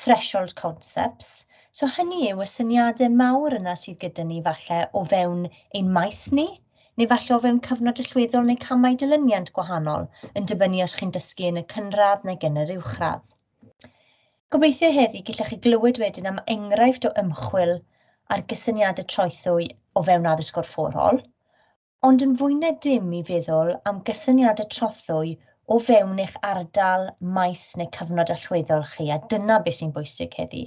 threshold concepts, so hynny yw y syniadau mawr yna sydd gyda ni falle o fewn ein maes ni, neu falle o fewn cyfnod allweddol neu camau dilyniant gwahanol, yn dibynnu os chi'n dysgu yn y cynradd neu yn yr uwchradd. Gobeithio heddi gallech chi glywed wedyn am enghraifft o ymchwil ar gysyniadau troethwy o fewn addysg gorfforol, Ond yn fwy na dim i feddwl am gysyniad y trothwy o fewn eich ardal, maes neu cyfnod allweddol chi, a dyna beth sy'n bwysig heddi.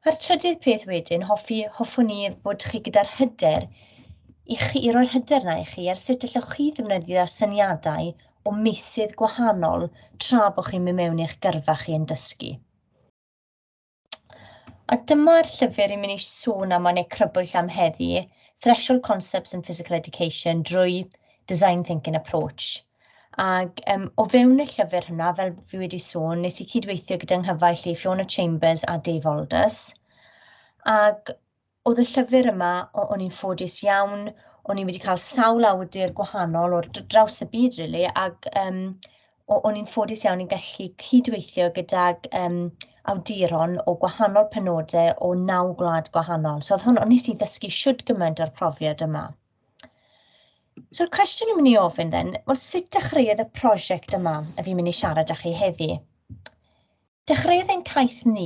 A'r trydydd peth wedyn, hoffi, hoffwn i fod chi gyda'r hyder i chi, i roi'r hyder na i chi ar sut allwch chi ddefnyddio syniadau o meysydd gwahanol tra bod chi'n mynd mewn i'ch gyrfa chi yn dysgu. A dyma'r llyfr i mynd i sôn am yn ei crybwyll am heddi, Threshold Concepts in Physical Education drwy Design Thinking Approach. Ac um, o fewn y llyfr hynna, fel fi wedi sôn, nes i cydweithio gyda nghyfaill i Fiona Chambers a Dave Aldous. Ac Oedd y llyfr yma, o- o'n i'n ffodus iawn, o'n i wedi cael sawl awdur gwahanol o'r dr- draws y byd rili, ac yym o- o'n i'n ffodus iawn i gallu cydweithio gydag yym awduron o gwahanol penodau o naw gwlad gwahanol. So oedd hwn... o- wnes i ddysgu shwd gymaint o'r profiad yma. So'r cwestiwn i'n mynd i ofyn then, wel sut dechreuodd y prosiect yma, a fi'n mynd i siarad â chi heddi? Dechreuodd ein taith ni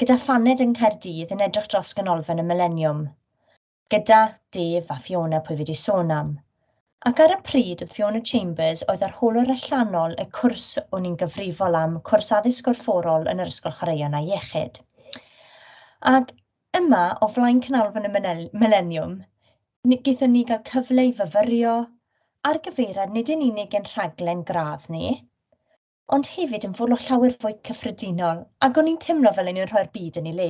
gyda phaned yng Nghaerdydd yn edrych dros ganolfan y Mileniwm, gyda Dave a Fiona pwy fi wedi sôn am, ac ar y pryd oedd Fiona Chambers oedd arholwr allanol y cwrs o'n i'n gyfrifol am, cwrs addysg gorfforol yn yr Ysgol Chwaraeon a Iechyd. Ac yma, o flaen canolfan y Mileniwm, gyda ni gael cyfle i fyfyrio ar gyfeiriad nid yn unig ein rhaglen gradd ni, ond hefyd yn fwrw llawer fwy cyffredinol, ac o'n i'n teimlo fel o'n i'n rhoi'r byd yn ei le.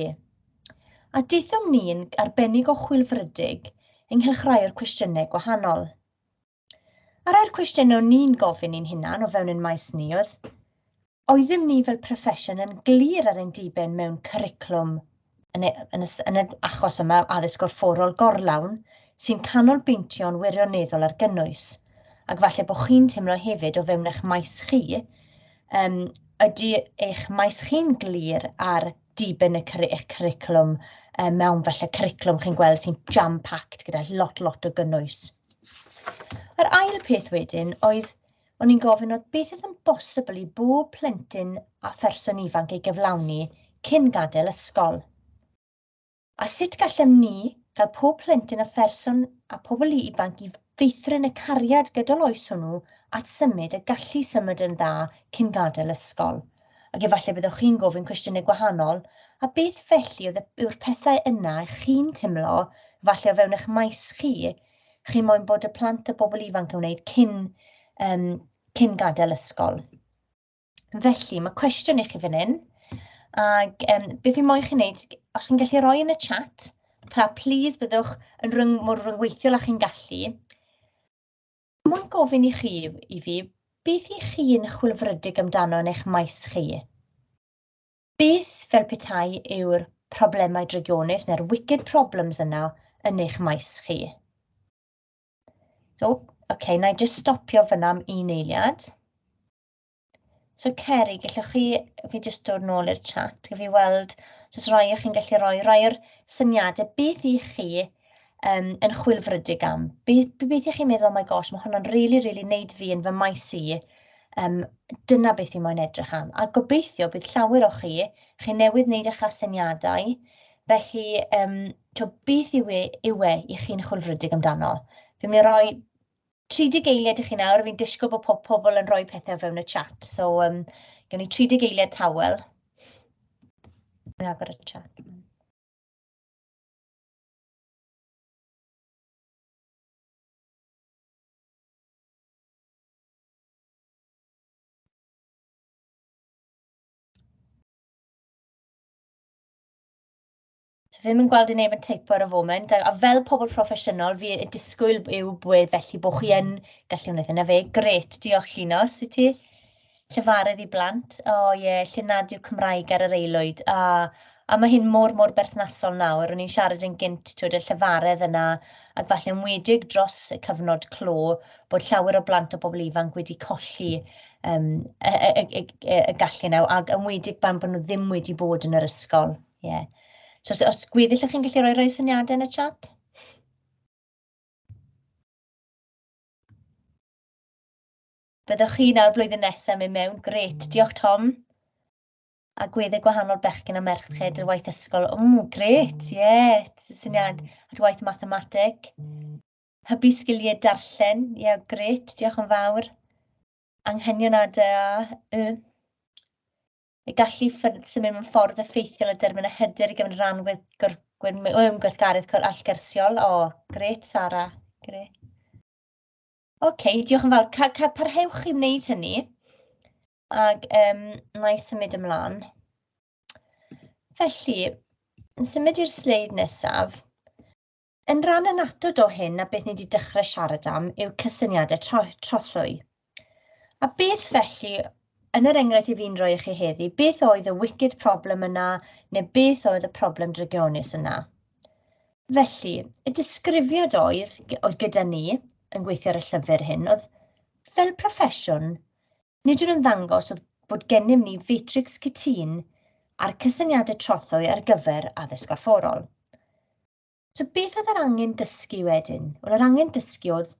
A daethom ni'n arbennig o chwilfrydig ynghylch rai o'r cwestiynau gwahanol. A rhai'r cwestiynau o'n ni'n gofyn i'n hunan o fewn ein maes ni oedd, oeddym ni fel proffesiwn yn glir ar ein diben mewn cwriclwm yn y, yn y, yn y achos yma addysg gorfforol gorlawn sy'n canolbwyntio'n wirioneddol ar gynnwys. Ac falle bod chi'n teimlo hefyd o fewn eich maes chi, um, ydy eich maes chi'n glir ar diben y cwr eich curriculum um, mewn felly curriculum chi'n gweld sy'n jam-packed gyda lot, lot o gynnwys. Yr ail peth wedyn oedd O'n i'n gofyn oedd beth oedd yn bosibl i bob plentyn a pherson ifanc ei gyflawni cyn gadael ysgol? A sut gallem ni gael pob plentyn a pherson a pobl ifanc i feithrin y cariad gydol oes hwnnw at symud y gallu symud yn dda cyn gadael ysgol? Ac efallai byddwch chi'n gofyn cwestiynau gwahanol, a beth felly oedd yw'r pethau yna chi'n timlo, falle o fewn eich maes chi, chi moyn bod y plant a bobl ifanc yn wneud cyn, um, cyn gadael ysgol. Felly, mae cwestiwn i chi fan hyn, ac um, beth fi moyn chi wneud, os chi'n gallu rhoi yn y chat, pa please byddwch yn rhyng, mor rhyngweithiol a chi'n gallu, moyn gofyn i chi, i fi, beth i chi'n chwilfrydig amdano yn eich maes chi? Beth fel petai yw'r problemau drygionus neu'r wicked problems yna yn eich maes chi? So, okay, na i just stopio fyna am un eiliad. So Ceri, gallwch chi, fi jyst dod nôl i'r chat, gyda fi weld, so os rai o chi'n gallu rhoi, rhoi o'r syniadau, beth i chi um, yn chwilfrydig am. Gobeithio chi'n meddwl, oh my gosh, mae hwnna'n rili, really, rili really wneud fi yn fy maes i. Um, dyna beth fi moyn edrych am. A gobeithio bydd llawer o chi, chi newydd wneud eich asyniadau, felly um, to beth yw e, yw e i chi'n chwilfrydig amdano. Fe mi roi 30 eiliad i chi nawr, fi'n disgwyl bod pob pobl yn rhoi pethau fewn y chat. So, um, gewn ni 30 eiliad tawel. Rwy'n agor y chat. So ddim yn gweld i neb yn teipo ar y foment, a fel pobl proffesiynol, fi y disgwyl yw bod felly bod chi yn gallu wneud hynna fe. Gret, diolch Llinos i ti. llefarydd i blant, o oh, ie, yeah, lle nad yw Cymraeg ar yr aelwyd, a, a mae hyn mor, mor berthnasol nawr, o'n i'n siarad yn gynt, twyd, y llefaredd yna, ac falle yn wedig dros y cyfnod clo, bod llawer o blant o bobl ifanc wedi colli um, y, y, y, y, y, y gallu yna, ac yn wedig pan bod nhw ddim wedi bod yn yr ysgol. Yeah. So os, os gweddill ych chi'n gallu rhoi rhoi syniadau yn y chat? Byddwch chi nawr blwyddyn nesaf mynd mewn. Gret, diolch Tom. A gwedde gwahanol bechgyn a merched yr waith ysgol. Mm, gret, ie, yeah. syniad. At waith mathemateg. Hybu sgiliau darllen, ie, yeah, gret, diolch yn fawr. Anghenion ADA, y. Y gallu symud mewn ffordd effeithiol y dermyn a hyder i gyfnod rhan gweithgaredd allgersiol. O, oh, gret, Sara, gret. OK, diolch yn fawr. Ca, ca, parhewch i wneud hynny. Ac um, na i symud ymlaen. Felly, yn symud i'r sleid nesaf, yn rhan yn atod o hyn a beth ni wedi dechrau siarad am yw cysyniadau tro, trothwy. A beth felly, yn yr enghraifft i fi'n rhoi i chi heddi, beth oedd y wicked problem yna, neu beth oedd y problem drygionus yna? Felly, y disgrifiad oedd, oedd gyda ni yn gweithio ar y llyfr hyn, oedd fel proffesiwn, nid yw'n ymddangos oedd bod gennym ni fetrics cytun a'r cysyniadau trothwy ar gyfer addysg gorfforol. So beth oedd yr angen dysgu wedyn? Wel, yr angen dysgu oedd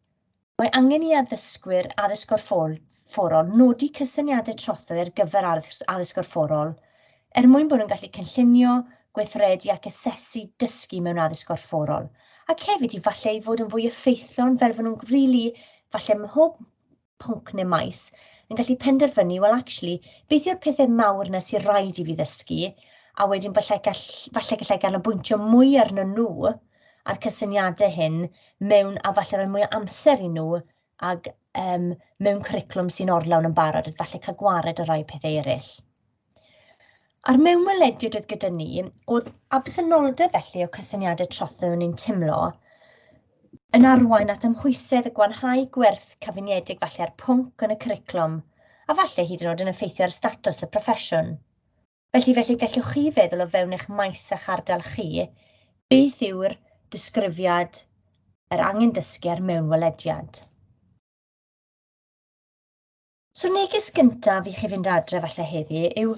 Mae angen i addysgwyr addysg gorfforol nodi cysyniadau trothwy ar gyfer addysg gorfforol er mwyn bod nhw'n gallu cynllunio, gweithredu ac asesu dysgu mewn addysg gorfforol, ac hefyd i falle i fod yn fwy effeithlon fel fod nhw'n rili, falle mhob pwnc neu maes, yn gallu penderfynu, wel actually, beth yw'r pethau mawr yna sy'n rhaid i fi ddysgu, a wedyn falle gall- falle gallai ganolbwyntio mwy arnyn nhw, a'r cysyniadau hyn mewn, a falle rhoi mwy o amser i nhw, ac um, mewn cwricwlwm sy'n orlawn yn barod, a falle cael gwared o rai pethau eraill. A'r mewnwelediad oedd gyda ni, oedd absenoldeb felly o cysyniadau trothu o'n i'n teimlo, yn arwain at ymhwysedd y gwanhau gwerth cyfuniedig falle ar pwnc yn y cwricwlwm, a falle hyd yn oed yn effeithio ar statws y proffesiwn. Felly, felly gellwch chi feddwl o fewn eich maes a'ch ardal chi, beth yw'r disgrifiad yr angen dysgu ar mewnwelediad. So neges gyntaf i chi fynd adre falle heddi yw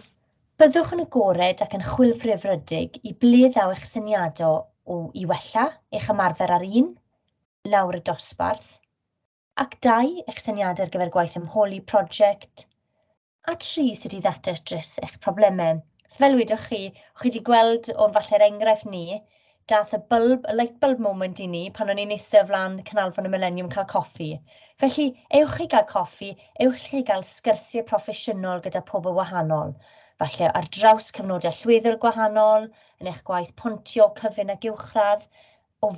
byddwch yn agored ac yn chwilfrifrydig i ble ddaw eich syniadau o i wella eich ymarfer ar un, lawr y dosbarth, ac dau, eich syniadau ar gyfer gwaith ymholi prosiect, A tri, sut i ddatrys eich problemau. So fel wedoch chi, chi wedi gweld o'n falle'r enghraifft ni, dath y bulb, y light bulb moment i ni pan o'n i'n eistedd o flaen canolfan y Millennium cael coffi. Felly, ewch chi gael coffi, ewch chi gael sgyrsiau proffesiynol gyda pobl wahanol, falle ar draws cyfnodau llwyddiant gwahanol, yn eich gwaith pontio, cyfun ac uwchradd, o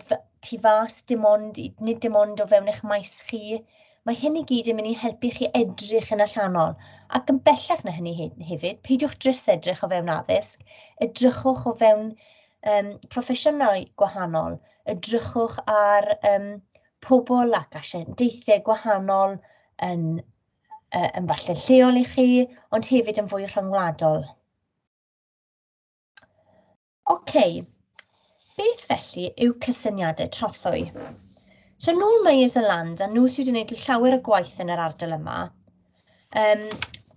tu fas, dim ond, nid dim ond o fewn eich maes chi. Mae hyn i gyd yn mynd i helpu chi edrych yn allanol, ac yn bellach na hynny hefyd, peidiwch drys edrych o fewn addysg, edrychwch o fewn um, proffesiynau gwahanol, edrychwch ar um, pobl ac asiantaethau gwahanol yn, uh, yn falle lleol i chi, ond hefyd yn fwy rhyngwladol. OK, beth felly yw cysyniadau trothwy? So nhw Myers a Land, a nhw sydd wedi gwneud llawer o gwaith yn yr ardal yma, um,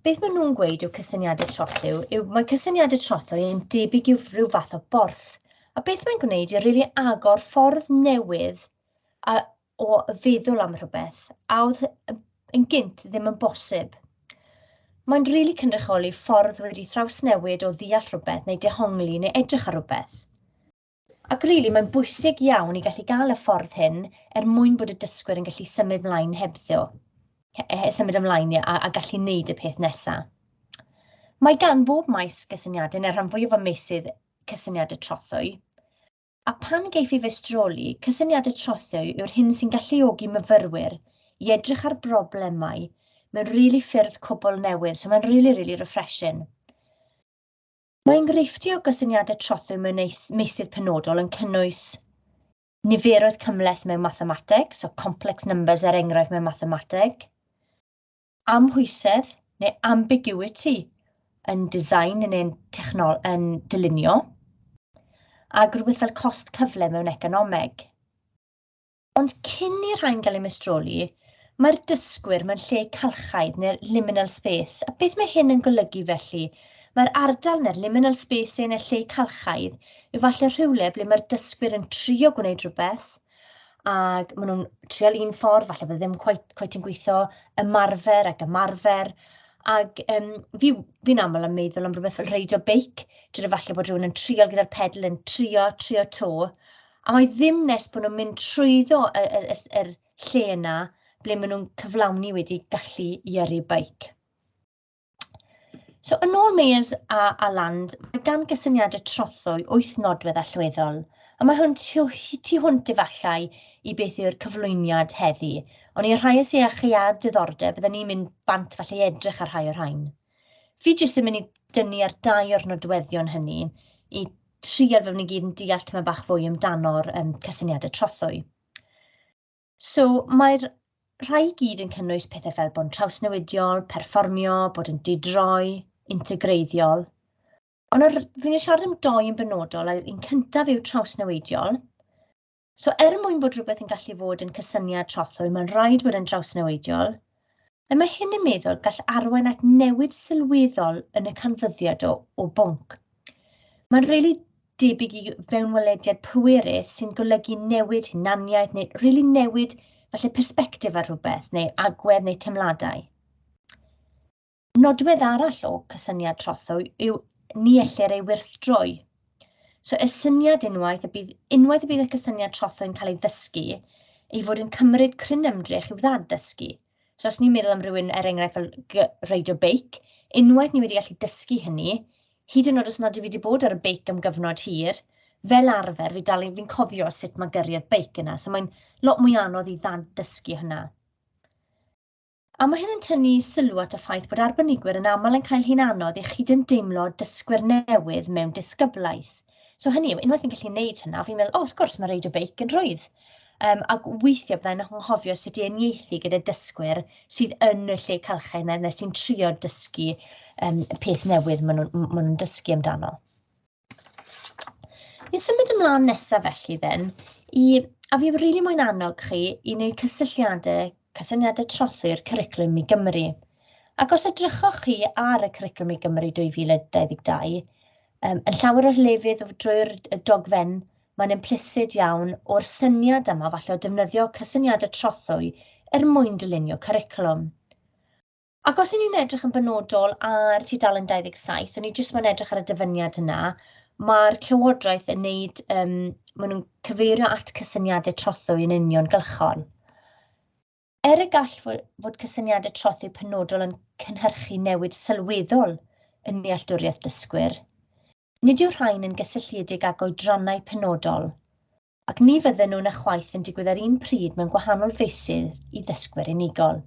beth maen nhw'n gweud yw cysyniadau trothwy, yw mae cysyniadau trothwy yn debyg i'w rhyw fath o borth. A beth mae'n gwneud yw rili really agor ffordd newydd a o feddwl am rhywbeth a oedd yn gynt ddim yn bosib. Mae'n rili really cynrychioli ffordd wedi thrawsnewid o ddeall rhywbeth neu dehongli neu edrych ar rhywbeth. Ac rili, really, mae'n bwysig iawn i gallu gael y ffordd hyn er mwyn bod y dysgwyr yn gallu symud mlaen hebddo, symud ymlaen a, a gallu wneud y peth nesaf. Mae gan bob maes gysyniadau, neu'r rhan fwyaf o meysydd cysyniadau trothwy, A phan geiff ei feistroli, cysyniad y trothwy yw'r hyn sy'n galluogi myfyrwyr i edrych ar broblemau mewn really ffyrdd cwbl newydd, so mae'n really, really refreshing. Mae enghreifftiau o gysyniadau trothwy mewn meysydd penodol yn cynnwys niferoedd cymhleth mewn mathemateg, so complex numbers er enghraifft mewn mathemateg, amhwysedd neu ambiguity yn design yn ein technol yn dylunio, ac rhywbeth fel cost cyfle mewn economeg. Ond cyn i'r rhain gael ei mestroli, mae'r dysgwyr mewn lle calchaidd neu'r liminal space, a beth mae hyn yn golygu felly? Mae'r ardal neu'r liminal space neu'r lle calchaidd yw falle rhywle ble mae'r dysgwyr yn trio gwneud rhywbeth, ac maen nhw'n trial un ffordd, falle bod e ddim cweit cweit yn gweithio, ymarfer ac ymarfer, ac yym fi fi'n aml yn meddwl am rywbeth fel reidio beic, tibod falle bod rywun yn trial gyda'r pedal yn trio trio 'to, a mae ddim nes bod nhw'n mynd trwyddo y y y s- yr lle 'na ble maen nhw'n cyflawni wedi gallu i yrru beic. So, yn ôl Meyers a, a Land, mae gan gysyniadau trothwy wyth nodwedd allweddol, a mae hwn tu, tu hwnt efallai i beth yw'r cyflwyniad heddi. Ond i'r rhai sy'n eich a diddordeb, byddwn ni'n mynd bant falle i edrych ar rhai o'r rhain. Fi jyst yn mynd i dynnu ar dau o'r nodweddion hynny i trial fe wnawn ni gyd yn deall tyma bach fwy amdano'r um, cysyniadau trothwy. So, mae'r rhai i gyd yn cynnwys pethau fel bod yn trawsnewidiol, perfformio, bod yn didroi, integreiddiol. Ond yr, fi'n ei siarad am doi yn benodol, a'r un cyntaf yw trawsnewidiol. So er mwyn bod rhywbeth yn gallu fod yn cysyniad trothwy, mae'n rhaid bod yn drawsnewidiol, Nawr mae hyn yn meddwl gall arwain at newid sylweddol yn y canfyddiad o, o bwnc. Mae'n rili really debyg i fewnwelediad pwerus sy'n golygu newid hunaniaeth neu rili really newid falle perspektif ar rhywbeth neu agwedd neu teimladau. Nodwedd arall o cysyniad trothwy yw ni ellir ei wirthdroi. So y syniad unwaith y bydd, unwaith y bydd y cysyniad trotho yn cael ei ddysgu, ei fod yn cymryd cryn ymdrech i'w ddad-dysgu. So os ni'n meddwl am rhywun, er enghraifft, fel reidio beic, unwaith ni wedi gallu dysgu hynny, hyd yn oed os nad yw wedi bod ar y beic am gyfnod hir, fel arfer, fi dal fi'n cofio sut mae gyrru'r beic yna, so mae'n lot mwy anodd i ddad-dysgu hynna. A mae hyn yn tynnu sylw at y ffaith bod arbenigwyr yn aml yn cael hi'n anodd i chi ddim deimlo dysgwyr newydd mewn disgyblaeth. So hynny yw, unwaith yn gallu gwneud hynna, fi'n meddwl, o, oh, wrth gwrs, mae reid y beic yn rhwydd. Um, ac weithiau byddai'n anghofio sut i eniaethu gyda dysgwyr sydd yn y lle calchau yna, neu sy'n trio dysgu um, peth newydd maen nhw'n nhw dysgu amdano. Ni'n symud ymlaen nesaf felly then, i, a fi rili really moyn annog chi i wneud cysylltiadau, cysyniadau trothu'r cwricwlwm i Gymru. Ac os edrychoch chi ar y cwricwlwm i Gymru 2022, um, yn llawer o'r lefydd drwy'r dogfen, mae'n implicit iawn o'r syniad yma falle o defnyddio cysyniadau trothwy er mwyn dylunio cwricwlwm. Ac os ni'n edrych yn benodol ar tudalen 27, o'n i jyst mo'n edrych ar y dyfyniad yna, mae'r Llywodraeth yn wneud, um, maen nhw'n cyfeirio at cysyniadau trothwy yn union gylchon. Er y gall fod cysyniadau trothwy penodol yn cynhyrchu newid sylweddol yn nealltwriaeth dysgwyr, nid yw rhain yn gysylltiedig ag oedrannau penodol, ac ni fydden nhw na chwaith yn digwydd ar un pryd mewn gwahanol feysydd i ddysgwyr unigol.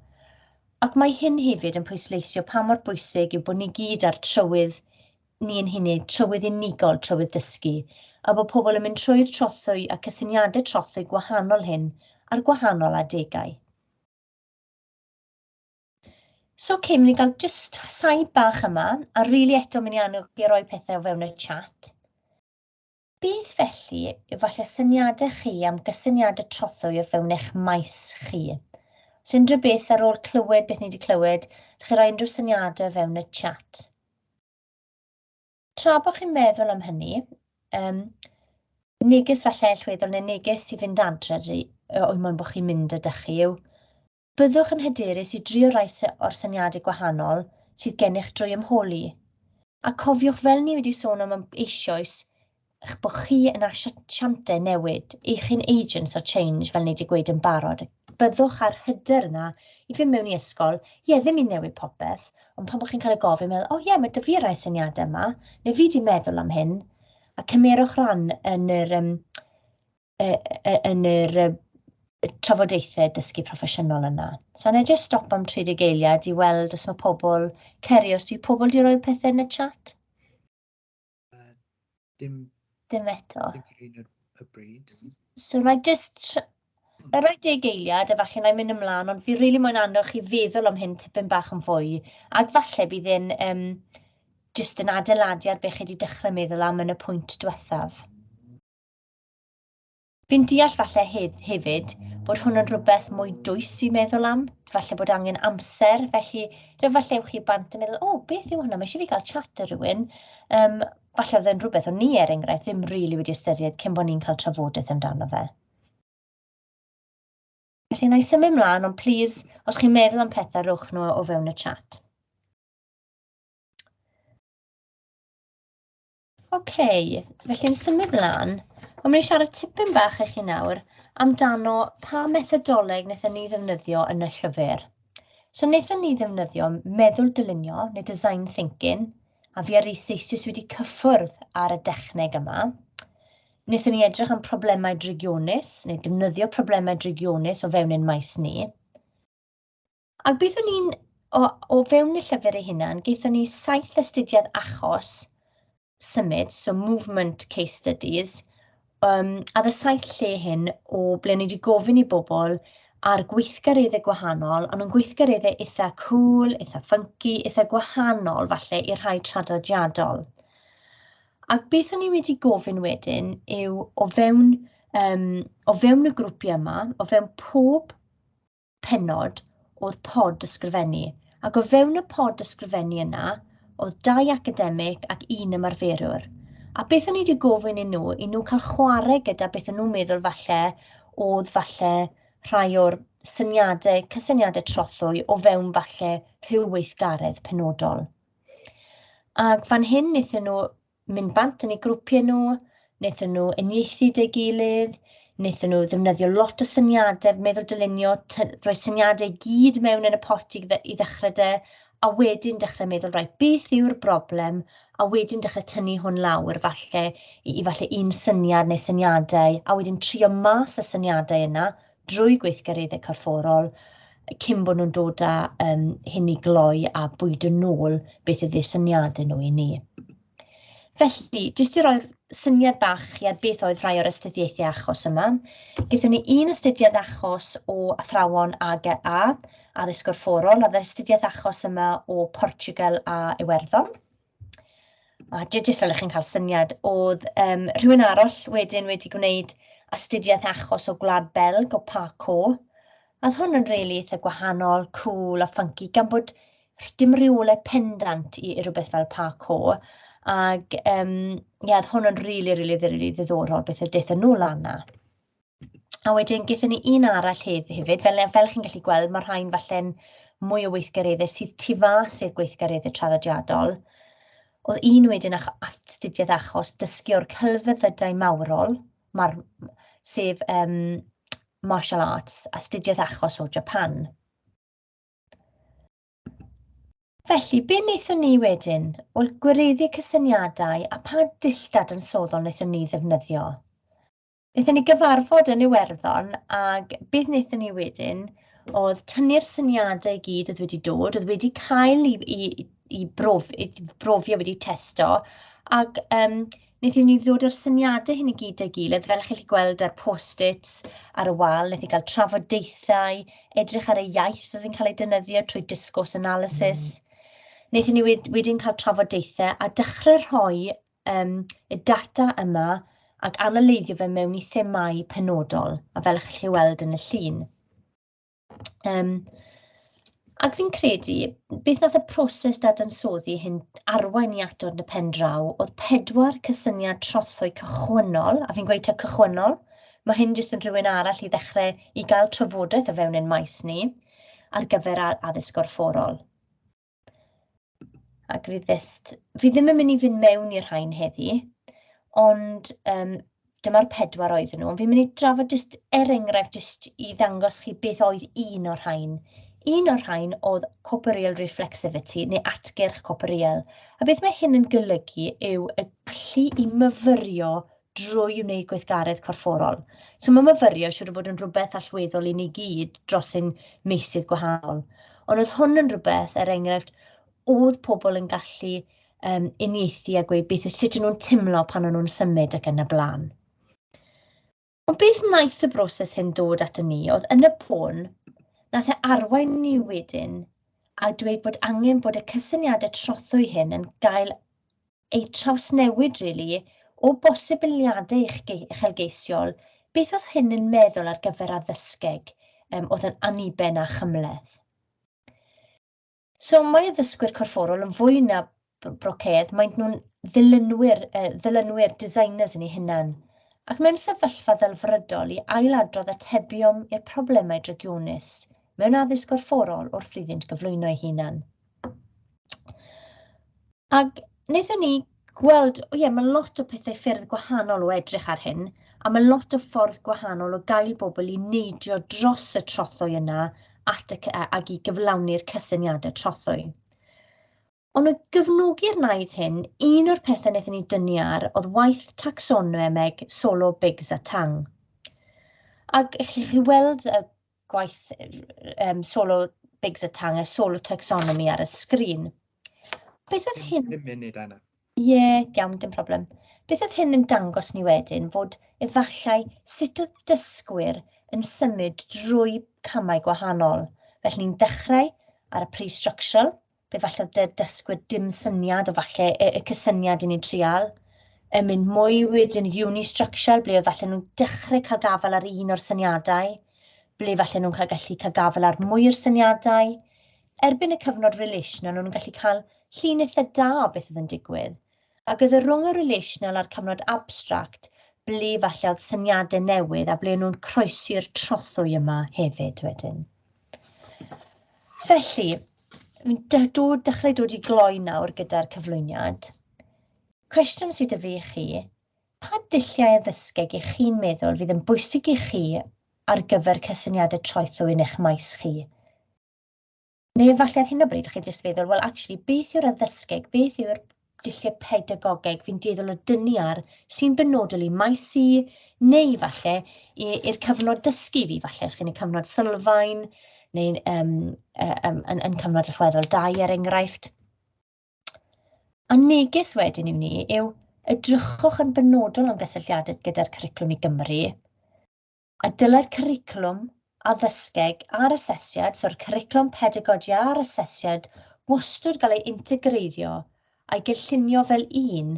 Ac mae hyn hefyd yn pwysleisio pa mor bwysig yw bod ni gyd ar trywydd ni yn hynny, trywydd unigol, trywydd dysgu, a bod pobl yn mynd trwy'r trothwy a cysyniadau trothwy gwahanol hyn ar gwahanol adegau. So, okay, mynd i gael just saib bach yma, a rili really eto mynd i annog i roi pethau o fewn y chat. Beth felly yw falle syniadau chi am gysyniadau trothwy o fewn eich maes chi? Os unrhyw beth ar ôl clywed beth ni wedi clywed, chi roi unrhyw syniadau o fewn y chat. Tra bod chi'n meddwl am hynny, um, neges falle allweddol neu neges i fynd adre o'u mwyn bod chi'n mynd ydych chi yw Byddwch yn hyderus i drio rai o'r syniadau gwahanol sydd gennych drwy ymholi. A cofiwch fel ni wedi sôn am am eisioes eich bod chi yn asiantau newid, eich hyn agents of change fel ni wedi gweud yn barod. Byddwch ar hyder yna i fynd mewn i ysgol, ie ddim i newid popeth, ond pan bod chi'n cael y gofyn meddwl, o ie mae dy fi rai syniadau yma, neu fi di meddwl am hyn, a cymerwch ran yn yr um, yn yr uh, trafodaethau dysgu proffesiynol yna. So yna jyst stop am 30 eiliad i weld os mae pobl, Ceri, os dwi pobl di roi pethau yn y chat? Uh, dim... Dim eto. Dim y bryd. So na jyst... Na roi deg eiliad, a falle na i mynd ymlaen, ond fi rili really moyn annog chi feddwl am hyn tipyn bach yn fwy, ac falle bydd yn um, jyst yn adeiladu ar beth chi wedi dechrau meddwl am yn y pwynt diwethaf. Fi'n deall falle hef hefyd bod hwn yn rhywbeth mwy dwys i meddwl am, falle bod angen amser, felly rhyw falle ewch chi bant yn meddwl, o, oh, beth yw hwnna, mae eisiau fi gael chat ar rhywun. Um, falle oedd yn rhywbeth o'n ni, er enghraifft, ddim rili really wedi ystyried cyn bod ni'n cael trafodaeth amdano fe. Felly, na i symud mlaen, ond please, os chi'n meddwl am pethau, rhowch nhw o fewn y chat. OK, felly'n symud mlaen. Ond mynd i siarad tipyn bach i chi nawr amdano pa methodoleg wnaethon ni ddefnyddio yn y llyfr. So wnaethon ni ddefnyddio meddwl dylunio neu design thinking, a fi ar eiseis jyst wedi cyffwrdd ar y dechneg yma. Wnaethon ni edrych am problemau drygionus, neu defnyddio problemau drygionus o fewn ein maes ni. Ac byddwn ni'n, o, o fewn y llyfr ei hunan, gaethon ni saith astudiad achos symud, so movement case studies, um, a dda saith lle hyn o ble ni wedi gofyn i bobl ar gweithgareddau gwahanol, ond yn gweithgareddau eitha cool, eitha funky, eitha gwahanol falle i'r rhai traddodiadol. Ac beth o'n i wedi gofyn wedyn yw o fewn, um, o fewn y grwpiau yma, o fewn pob pennod o'r pod ysgrifennu, ac o fewn y pod ysgrifennu yna, oedd dau academig ac un ymarferwr. A beth o'n i wedi gofyn i nhw, i nhw cael chwarae gyda beth o'n nhw'n meddwl falle oedd falle rhai o'r syniadau, cysyniadau trothwy o fewn falle rhyw weithgaredd penodol. Ac fan hyn wnaethon nhw mynd bant yn eu grwpiau nhw, wnaethon nhw uniaethu deu gilydd, wnaethon nhw ddefnyddio lot o syniadau, meddwl dylunio, rhoi syniadau i gyd mewn yn y pot i i ddechrau 'da, a wedyn dechrau meddwl, reit, beth yw'r broblem, a wedyn dechrau tynnu hwn lawr falle i falle un syniad neu syniadau, a wedyn trio mas y syniadau yna, drwy gweithgareddau corfforol cyn bod nhw'n dod â um, hyn i gloi a bwyd yn ôl beth ydy'r syniad yn nhw i ni. Felly, jyst i roi'r syniad bach chi ar beth oedd rhai o'r astudiaethau achos yma, gyda ni un astudiad achos o athrawon AGA, addysg gorfforol, a astudiaeth achos yma o Portugal a Iwerddon. A j- jyst fel 'y chi'n cael syniad, oedd yym rhywun arall wedyn wedi gwneud astudiaeth achos o Gwlad Belg, o Park Caux, a oedd hwn yn rili eitha gwahanol, cŵl a ffynci, gan bod rh- dim rywle pendant i i rywbeth fel Park Caux, ac yym ie, oedd hwn yn rili, rili, rili ddiddorol beth a daethon nhw lan 'na. A wedyn, gyda ni un arall hef- hefyd, fel fel chi'n gallu gweld, mae'r rhain falle'n mwy o weithgareddau sydd tu fas i'r gweithgareddau traddodiadol. Oedd un wedyn ach- astudiaeth achos dysgu o'r celfyddydau mawrol, mae'r sef um, martial arts, astudiaeth achos o Japan. Felly, be wnaethon ni wedyn? Wel, gwireddu cysyniadau a pa dilltad yn soddol wnaethon ni ddefnyddio? Wnaethon ni gyfarfod yn Iwerddon ac beth wnaethon ni wedyn oedd tynnu'r syniadau i gyd oedd wedi dod, oedd wedi cael eu eu eu brof- eu brofi a wedi testo, ac yym wnaethon ni ddod â'r syniadau hyn i gyd dâ'i gilydd, fel chi'n gallu gweld ar post-its ar y wal, wnaethon ni gael trafodaethau, edrych ar y iaith oedd yn cael ei defnyddio trwy Discourse Analysis, wnaethon ni wed- wedyn cael trafodaethau a dechrau rhoi yym, y data yma ac analydio fe mewn i themâu penodol, a fel chi'n chi weld yn y llun. Um, ac fi'n credu, beth nath y proses dadansoddi hyn arwain i atod yn y pen draw oedd pedwar cysyniad trothwy cychwynnol, a fi'n gweud ta cychwynnol, mae hyn jyst yn rhywun arall i ddechrau i gael trafodaeth o fewn ein maes ni ar gyfer addysg gorfforol. Ac fi jyst... fi ddim yn mynd i fynd mewn i'r rhain heddi, ond yym dyma'r pedwar oedden nhw. Fi'n mynd i drafod jyst, er enghraifft, jyst i ddangos chi beth oedd un o'r rhain. Un o'r rhain oedd corporeal reflexivity, neu atgyrch corporeal. A beth mae hyn yn golygu yw y gallu i myfyrio drwy wneud gweithgaredd corfforol. So mae myfyrio siwr o fod yn rhywbeth allweddol i ni gyd dros ein meysydd gwahanol. Ond oedd hwn yn rhywbeth, er enghraifft, oedd pobl yn gallu um, uniaethu a gweud beth, sut nhw'n timlo pan o'n nhw'n symud ac yn y blaen. Ond beth wnaeth y broses hyn dod at ni oedd yn y pôn, nath e arwain ni wedyn a dweud bod angen bod y cysyniadau trothwy hyn yn gael ei trawsnewid rili, o bosibiliadau uchelgeisiol, beth oedd hyn yn meddwl ar gyfer addysgeg, um, oedd yn aniben a chymleth. So mae addysgwyr corfforol yn fwy na brocedd, maent nhw'n ddilynwyr, uh, ddilynwyr designers yn ei hunan, ac mewn sefyllfa ddelfrydol i ailadrodd atebion i'r problemau drygionus mewn addysg gorfforol wrth iddynt gyflwyno ei hunan. Ac wnaethon ni gweld, o ie, mae lot o pethau ffyrdd gwahanol o edrych ar hyn, a mae lot o ffordd gwahanol o gael bobl i neidio dros y trothwy yna at y, ac i gyflawni'r cysyniadau trothwy. Ond o gyfnogi'r naid hyn, un o'r pethau wnaethon ni dynnu ar oedd waith taxonomeg solo bigs a tang. Ac chi weld y gwaith um, solo Biggs a Tang, a solo taxonomy ar y sgrin. Beth oedd hyn... Dim munud, Anna. Ie, yeah, iawn, dim problem. Beth oedd hyn yn dangos ni wedyn fod efallai sut oedd dysgwyr yn symud drwy camau gwahanol. Felly ni'n dechrau ar y pre-structural, efallai dy dysgwyr dim syniad o falle y, y cysyniad i ni'n trial, yn mynd mwy wedyn i unistructural, ble efallai nhw'n dechrau cael gafael ar un o'r syniadau, ble efallai nhw'n cael gallu cael gafael ar mwy o'r syniadau. Erbyn y cyfnod relational, nhw'n gallu cael llun eitha da o beth oedd yn digwydd. A gyda rhwng y relational a'r cyfnod abstract, ble efallai oedd syniadau newydd a ble nhw'n croesi'r trothwy yma hefyd wedyn. Felly, fi'n dod, dechrau dod i gloi nawr gyda'r cyflwyniad. Cwestiwn sydd y fi chi, pa dulliau addysgeg i chi'n meddwl fydd yn bwysig i chi ar gyfer cysyniadau troethu yn eich maes chi? Neu efallai ar hyn o bryd, chi jyst feddwl, wel, actually, beth yw'r addysgeg, beth yw'r dulliau pedagogeg, fi'n dueddol o dynnu ar, sy'n benodol i maes i, neu falle i'r cyfnod dysgu fi, falle os gen i cyfnod sylfaen, neu um, um, yn, yn cyfnod rhweddol dau er enghraifft. A neges wedyn i ni yw, edrychwch yn benodol am gysylltiadau gyda'r cwricwlwm i Gymru, A dylai'r cwricwlwm addysgeg a'r asesiad, so'r cwricwlwm pedagogi a'r asesiad, wastad gael ei integreiddio a'i gynllunio fel un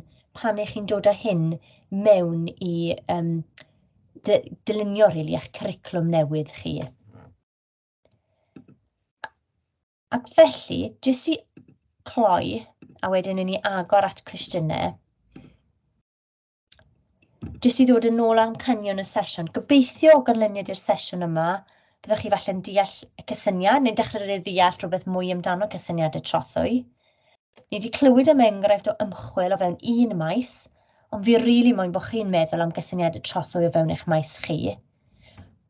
pan ych chi'n dod â hyn mewn i um, dylunio rili really, eich cwricwlwm newydd chi. Ac felly, jyst i cloi, a wedyn i ni agor at cwestiynau, jyst i ddod yn ôl am canion y sesiwn, gobeithio o ganlyniad i'r sesiwn yma, byddwch chi falle'n deall y cysyniad neu'n dechrau rhaid ddeall rhywbeth mwy amdano cysyniad y trothwy. Ni wedi clywed am enghraifft o ymchwil o fewn un maes, ond fi rili really moyn bod chi'n meddwl am gysyniad y trothwy o fewn eich maes chi.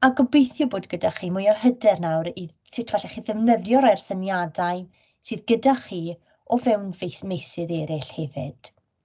A gobeithio bod gyda chi mwy o hyder nawr i sut falle chi ddefnyddio rhai'r syniadau sydd gyda chi o fewn meisydd eraill hefyd.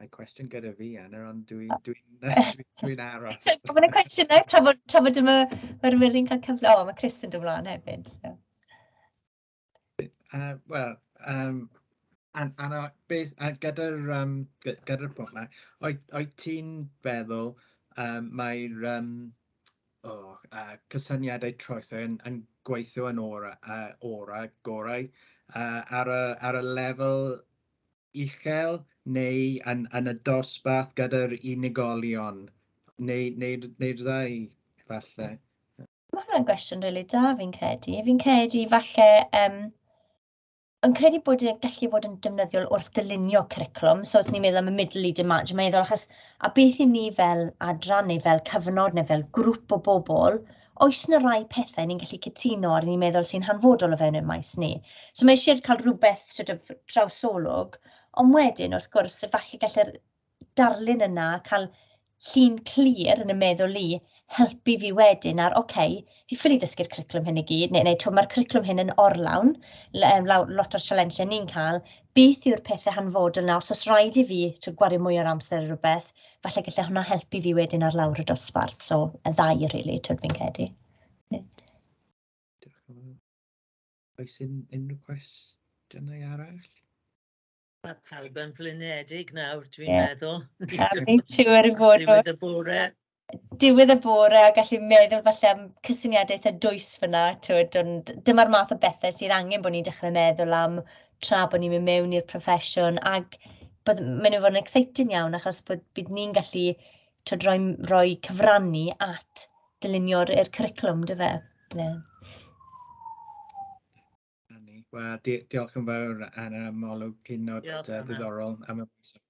Mae cwestiwn gyda fi, Anna, ond dwi'n dwi, dwi, dwi, dwi aros. Mae'n cwestiynau tra fod, tra fod yma yr wyrin cael cyfle. O, mae Chris yn dod mlaen hefyd. So. Uh, Wel, um, an, Anna, beth, a gyda'r um, gyda pwnc yma, oed, oed ti'n feddwl um, mae'r um, oh, uh, cysyniadau troethau yn, yn gweithio yn ora, uh, ora gorau uh, ar, y, ar y lefel uchel neu yn, yn y dosbarth gyda'r unigolion, neu, neu, neu'r ddau, falle? Mae hwnna'n gwestiwn rili really da fi'n credu. Fi'n credu falle um, yn credu bod e'n gallu bod yn defnyddiol wrth dylunio curriculum. So, wrth ni'n meddwl am y middle lead match, mae'n meddwl achos, a beth i ni fel adran neu fel cyfnod neu fel grŵp o bobl, oes 'na rai pethau ni'n gallu cytuno ar, ni'n meddwl sy'n hanfodol o fewn ein maes ni. So mae eisiau cael rhywbeth sort of trawsolwg, ond wedyn wrth gwrs, efallai gallai'r darlun yna cael llun clir yn y meddwl i helpu fi wedyn ar, oce, okay, fi ffili dysgu'r cwricwlwm hyn i gyd, neu, neu mae'r cwricwlwm hyn yn orlawn, lot o'r sialensau ni'n cael, beth yw'r pethau hanfodol yna, os oes rhaid i fi gwario mwy o'r amser ar rhywbeth, Falle gallai hwnna helpu fi wedyn ar lawr y dosbarth, so y ddau, rili, really, twyd fi'n credu. Oes unrhyw cwestiynau arall? Mae pawb yn flinedig nawr, dwi'n yeah. meddwl. Dwi'n siŵr er i fod. Diwedd y bore. Diwedd y bore a gallu meddwl falle am cysyniadau eitha dwys fyna, twyd, ond dyma'r math o bethau sydd angen bod ni'n dechrau meddwl am tra bod ni'n mynd mewn i'r proffesiwn ac bod, maen nhw'n fod yn exciting iawn achos bod, bydd ni'n gallu twyd, rhoi, rhoi cyfrannu at dylunio'r cwricwlwm, dy fe? Yeah. Wel, di diolch yn fawr, Anna, am olwg hynod uh, ddiddorol am y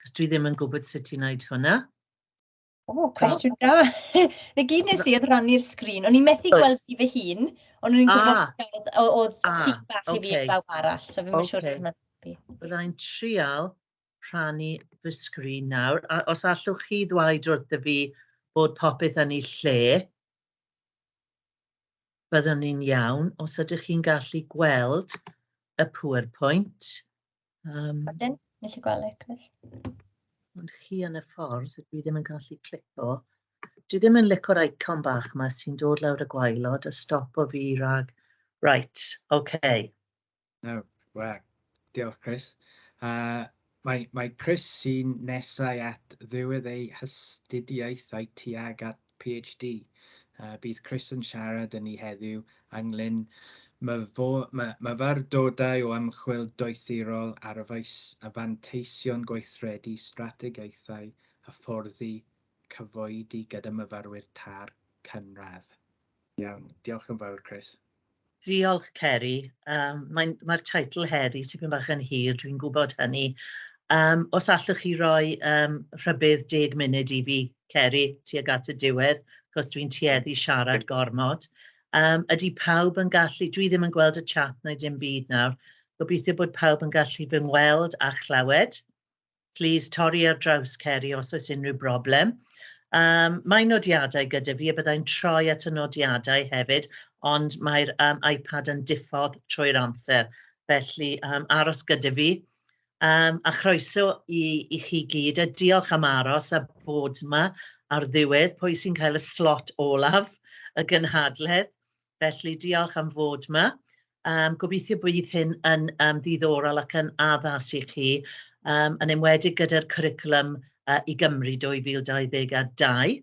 Cos dwi ddim yn gwybod sut i wneud hwnna. O, cwestiwn da. Na gyd nes i oedd rannu'r sgrin. O'n i'n methu gweld fi fy hun, ond o'n i'n gwybod ah. oedd ah, cig bach i fi yn bawb arall, so fi'n siŵr sut mae'n helpu. Byddai'n trial rhannu fy sgrin nawr, a os allwch chi ddweud wrth y fi bod popeth yn ei lle. Byddwn ni'n iawn os ydych chi'n gallu gweld y PowerPoint. Um, Wedyn, gallu gweld eich gwell. Ond chi yn y ffordd, dwi ddim yn gallu clico. Dwi ddim yn licor icon bach yma sy'n dod lawr y gwaelod a stop o fi rhag... Right, okay. No, well, diolch Chris. Uh, mae, mae Chris sy'n nesau at ddiwedd ei hastudiaethau tuag at PhD. Uh, bydd Chris yn siarad yn ni heddiw ynglyn myfyrdodau o ymchwil doethurol ar y faes a fanteision gweithredu strategaethau hyfforddi cyfoedi gyda myfyrwyr tar cynradd. Iawn, diolch yn fawr Chris. Diolch Ceri. Yym mae'n... mae'r teitl heddi tipyn bach yn hir, dwi'n gwybod hynny. Yym os allwch chi roi yym rhybudd deg munud i fi, Ceri, tuag at y diwedd, achos dwi'n tueddu siarad gormod. Yym ydy pawb yn gallu... dwi ddim yn gweld y chat na dim byd nawr. Gobeithio bod pawb yn gallu fy ngweld a chlywed. Plis torri ar draws Ceri os oes unrhyw broblem. Um, mae nodiadau gyda fi a byddai'n troi at y nodiadau hefyd, ond mae'r um, iPad yn diffodd trwy'r amser. Felly um, aros gyda fi. Um, a chroeso i, i chi gyd a diolch am aros a bod yma ar ddiwedd pwy sy'n cael y slot olaf y gynhadledd. Felly, diolch am fod yma. Um, gobeithio bydd hyn yn um, ddiddorol ac yn addas i chi, um, yn enwedig gyda'r cwricwlwm uh, i Gymru 2022.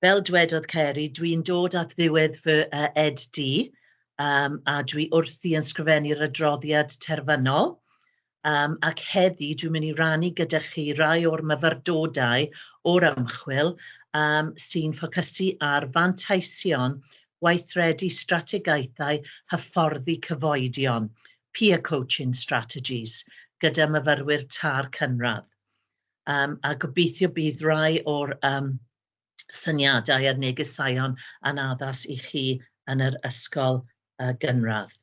Fel dwedodd Ceri, dwi'n dod at ddiwedd fy uh, ed-di um, a dwi wrthi yn sgrifennu'r adroddiad terfynol. um, ac heddi dwi'n mynd i rannu gyda chi rai o'r myfyrdodau o'r ymchwil um, sy'n ffocysu ar fanteision gweithredu strategaethau hyfforddi cyfoedion, peer coaching strategies, gyda myfyrwyr tar cynradd. Um, a gobeithio bydd rai o'r um, syniadau a'r negeseuon yn addas i chi yn yr ysgol uh, gynradd.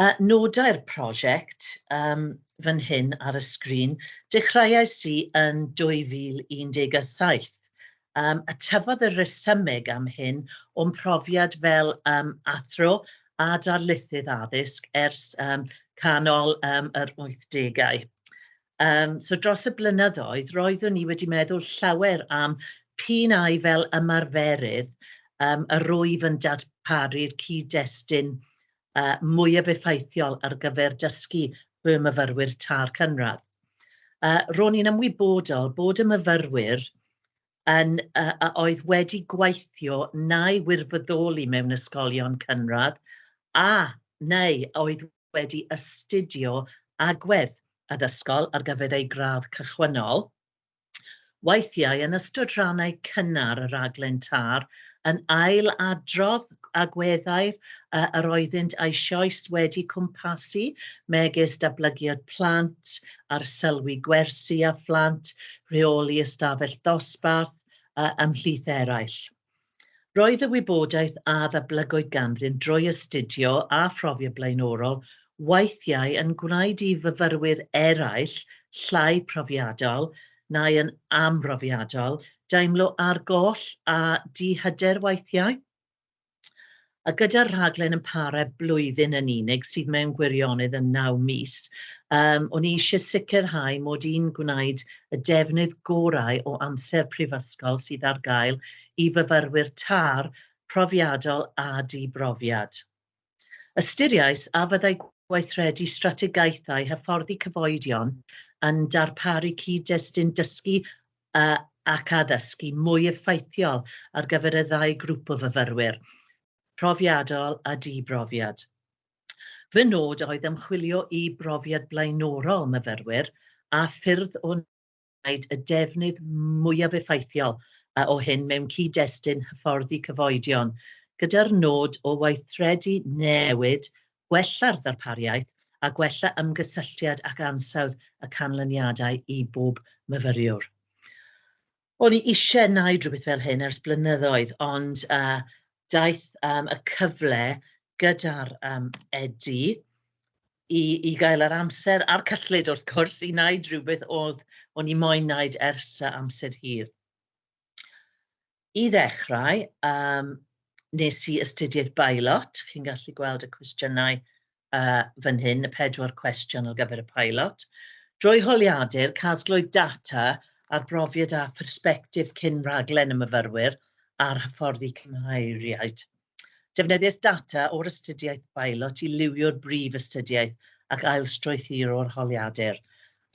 Uh, nodau'r prosiect um, fan hyn ar y sgrin, dechreuais i yn 2017. Um, a tyfodd y resymeg am hyn o'n profiad fel um, athro a darlithydd addysg ers um, canol um, yr 80au. Yym, so dros y blynyddoedd, roeddwn i wedi meddwl llawer am p'un ai fel ymarferydd um, yr wyf yn darparu'r cyd-destun uh, mwyaf effeithiol ar gyfer dysgu y myfyrwyr tar cynradd. Uh, ro'n i'n ymwybodol bod y myfyrwyr yn, uh, a oedd wedi gweithio neu wirfoddoli mewn ysgolion cynradd a neu oedd wedi astudio agwedd addysgol ar gyfer eu gradd cychwynnol, weithiau yn ystod rhannau cynnar y rhaglen TAR, yn ail-adrodd agweddau yr oeddynt eisoes wedi cwmpasu, megis datblygiad plant, arsylwi gwersi a phlant, rheoli ystafell ddosbarth, ymhlith eraill. Roedd y wybodaeth a ddablygwyd ganddyn drwy astudio a phrofiad blaenorol weithiau yn gwneud i fyfyrwyr eraill llai profiadol neu yn amhrofiadol deimlo argoll a dihyder weithiau. a gyda'r rhaglen yn para blwyddyn yn unig, sydd mewn gwirionedd yn naw mis, um, o'n i eisiau sicrhau mod i'n gwneud y defnydd gorau o amser prifysgol sydd ar gael i fyfyrwyr tar profiadol a dibrofiad. Ystyriais a fyddai gweithredu strategaethau hyfforddi cyfoedion yn darparu cyd-destun dysgu ac addysgu mwy effeithiol ar gyfer y ddau grŵp o fyfyrwyr, profiadol a di-brofiad. Fy nod oedd ymchwilio i brofiad blaenorol myfyrwyr a ffyrdd o wneud y defnydd mwyaf effeithiol o hyn mewn cyd-destun hyfforddi cyfoedion, gyda'r nod o weithredu newid gwella'r ddarpariaeth a gwella ymgysylltiad ac ansawdd y canlyniadau i bob myfyriwr. O'n i eisiau gwneud rhywbeth fel hyn ers blynyddoedd, ond uh, daeth um, y cyfle gyda'r um, Edi i, i gael yr amser a'r cyllid wrth gwrs i wneud rhywbeth oedd o'n i moyn wneud ers amser hir. I ddechrau, um, nes i ystydiaeth pilot. Chi'n gallu gweld y cwestiynau uh, fan hyn, y pedwar cwestiwn ar gyfer y pilot. Drwy holiadur, casglwyd data ar brofiad a pherspectif cyn raglen y myfyrwyr a'r hyfforddi cymhaeriaid. Defnyddiais data o'r astudiaeth bailot i liwio'r brif astudiaeth ac ailstrwythuro'r holiadur.